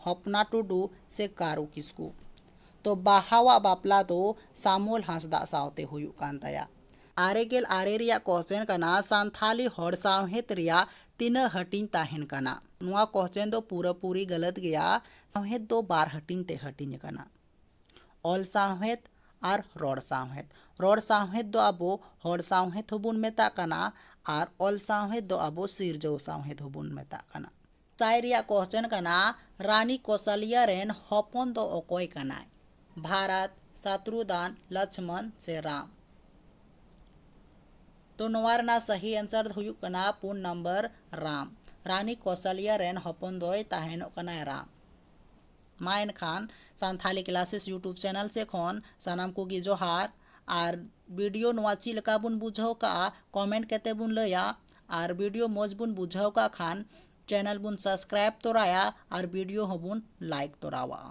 ᱦᱚᱯᱱᱟ ᱴᱩᱰᱩ ᱥᱮ ᱠᱟᱹᱨᱩ ᱠᱤᱥᱠᱩ ᱛᱚ ᱵᱟᱦᱟᱣᱟᱜ ᱵᱟᱯᱞᱟ ᱫᱚ ᱥᱟᱢᱩᱞ ᱦᱟᱸᱥᱫᱟ ᱥᱟᱶᱛᱮ ᱦᱩᱭᱩᱜ ᱠᱟᱱ ᱛᱟᱭᱟ ᱟᱨᱮ ᱜᱮᱞ ᱟᱨᱮ ᱨᱮᱭᱟᱜ ᱠᱚᱥᱪᱮᱱ ᱠᱟᱱᱟ ᱥᱟᱱᱛᱷᱟᱞᱤ ᱦᱚᱲ ᱥᱟᱶᱦᱮᱫ ᱨᱮᱭᱟᱜ ᱛᱤᱱᱟᱹᱜ ᱦᱟᱹᱴᱤᱧ ᱛᱟᱦᱮᱱ ᱠᱟᱱᱟ ᱱᱚᱣᱟ ᱠᱚᱥᱪᱮᱱ ᱫᱚ ᱯᱩᱨᱟᱹ ᱯᱩᱨᱤ ᱜᱟᱹᱞᱟᱹᱛ ᱜᱮᱭᱟ ᱥᱟᱶᱦᱮᱫ ᱫᱚ ᱵᱟᱨ ᱦᱟᱹᱴᱤᱧ ᱛᱮ ᱦᱟᱹᱴᱤᱧ ᱟᱠᱟᱱᱟ ᱚᱞ ᱥᱟᱶᱦᱮᱫ ᱟᱨ ᱨᱚᱲ ᱥᱟᱶᱦᱮᱫ ᱨᱚᱲ ᱥᱟᱶᱦᱮᱫ ᱫᱚ ᱟᱵᱚ ᱦᱚᱲ ᱥᱟᱶᱦᱮᱫ ᱦᱚᱸᱵᱚᱱ ᱢᱮᱛᱟᱜ ᱠᱟᱱᱟ ᱟᱨ ᱚᱞ ᱥᱟᱶᱦᱮᱫ ᱫᱚ ᱟᱵᱚ ᱥᱤᱨᱡᱟᱹᱣ ᱥᱟᱶᱦᱮᱫ ᱦᱚᱸᱵᱚᱱ ᱢᱮᱛᱟᱜ ᱠᱟᱱᱟ ᱛᱟᱭ ᱨᱮᱭᱟᱜ ᱠᱚᱥᱪᱮᱱ ᱠᱟᱱᱟ ᱨᱟᱱᱤ ᱠᱚᱥᱟᱞᱤᱭᱟ ᱨᱮᱱ ᱦᱚᱯᱚᱱ ᱫᱚ ᱚᱠᱚᱭ ᱠᱟᱱᱟᱭ ᱵᱷᱟᱨᱟᱛ ᱥᱟᱛᱨᱩᱫᱟᱱ ᱞᱚᱪᱷᱢᱚᱱ ᱥᱮ ᱨᱟᱢ ᱛᱚ ᱱᱚᱣᱟ ᱨᱮᱱᱟᱜ ᱥᱟᱦᱤ ᱮᱱᱥᱟᱨ ᱫᱚ ᱦᱩᱭᱩᱜ ᱠᱟᱱᱟ ᱯᱩᱱ ᱱᱟᱢᱵᱟᱨ ᱨᱟᱢ ᱨᱟᱱᱤ ᱠᱚᱥᱟᱞᱤᱭᱟ ᱨᱮᱱ ᱦᱚᱯᱚᱱ ᱫᱚᱭ ᱛᱟᱦᱮᱱᱚᱜ ᱠᱟᱱᱟᱭ ᱨᱟᱢ ᱢᱟ ᱮᱱᱠᱷᱟᱱ ᱥᱟᱱᱛᱷᱟᱞᱤ ᱠᱞᱟᱥᱮᱥ ᱭᱩᱴᱩᱵᱽ ᱪᱮᱱᱮᱞ ᱥᱮ ᱠᱷᱚᱱ ᱥᱟᱱᱟᱢ ᱠᱚᱜᱮ ᱡᱚᱦᱟᱨ ᱟᱨ ᱵᱷᱤᱰᱤᱭᱳ ᱱᱚᱣᱟ ᱪᱮᱫ ᱞᱮᱠᱟ ᱵᱚᱱ ᱵᱩᱡᱷᱟᱹᱣ ᱠᱟᱜᱼᱟ ᱠᱚᱢᱮᱱᱴ ᱠᱟᱛᱮ ᱵᱚᱱ ᱞᱟᱹᱭᱟ ᱟᱨ ᱵᱷᱤᱰᱤᱭᱳ ᱢᱚᱡᱽ ᱵᱚᱱ ᱵᱩᱡᱷᱟᱹᱣ ᱠᱟᱜ ᱠᱷᱟᱱ ᱪᱮᱱᱮᱞ ᱵᱚᱱ ᱥᱟᱵᱥᱠᱨᱟᱭᱤᱵ ᱛᱚᱨᱟᱭᱟ ᱟᱨ ᱵᱷᱤᱰᱤᱭᱳ ᱦᱚᱸᱵᱚᱱ ᱞᱟᱭᱤᱠ ᱛᱚᱨᱟᱣᱟᱜᱼᱟ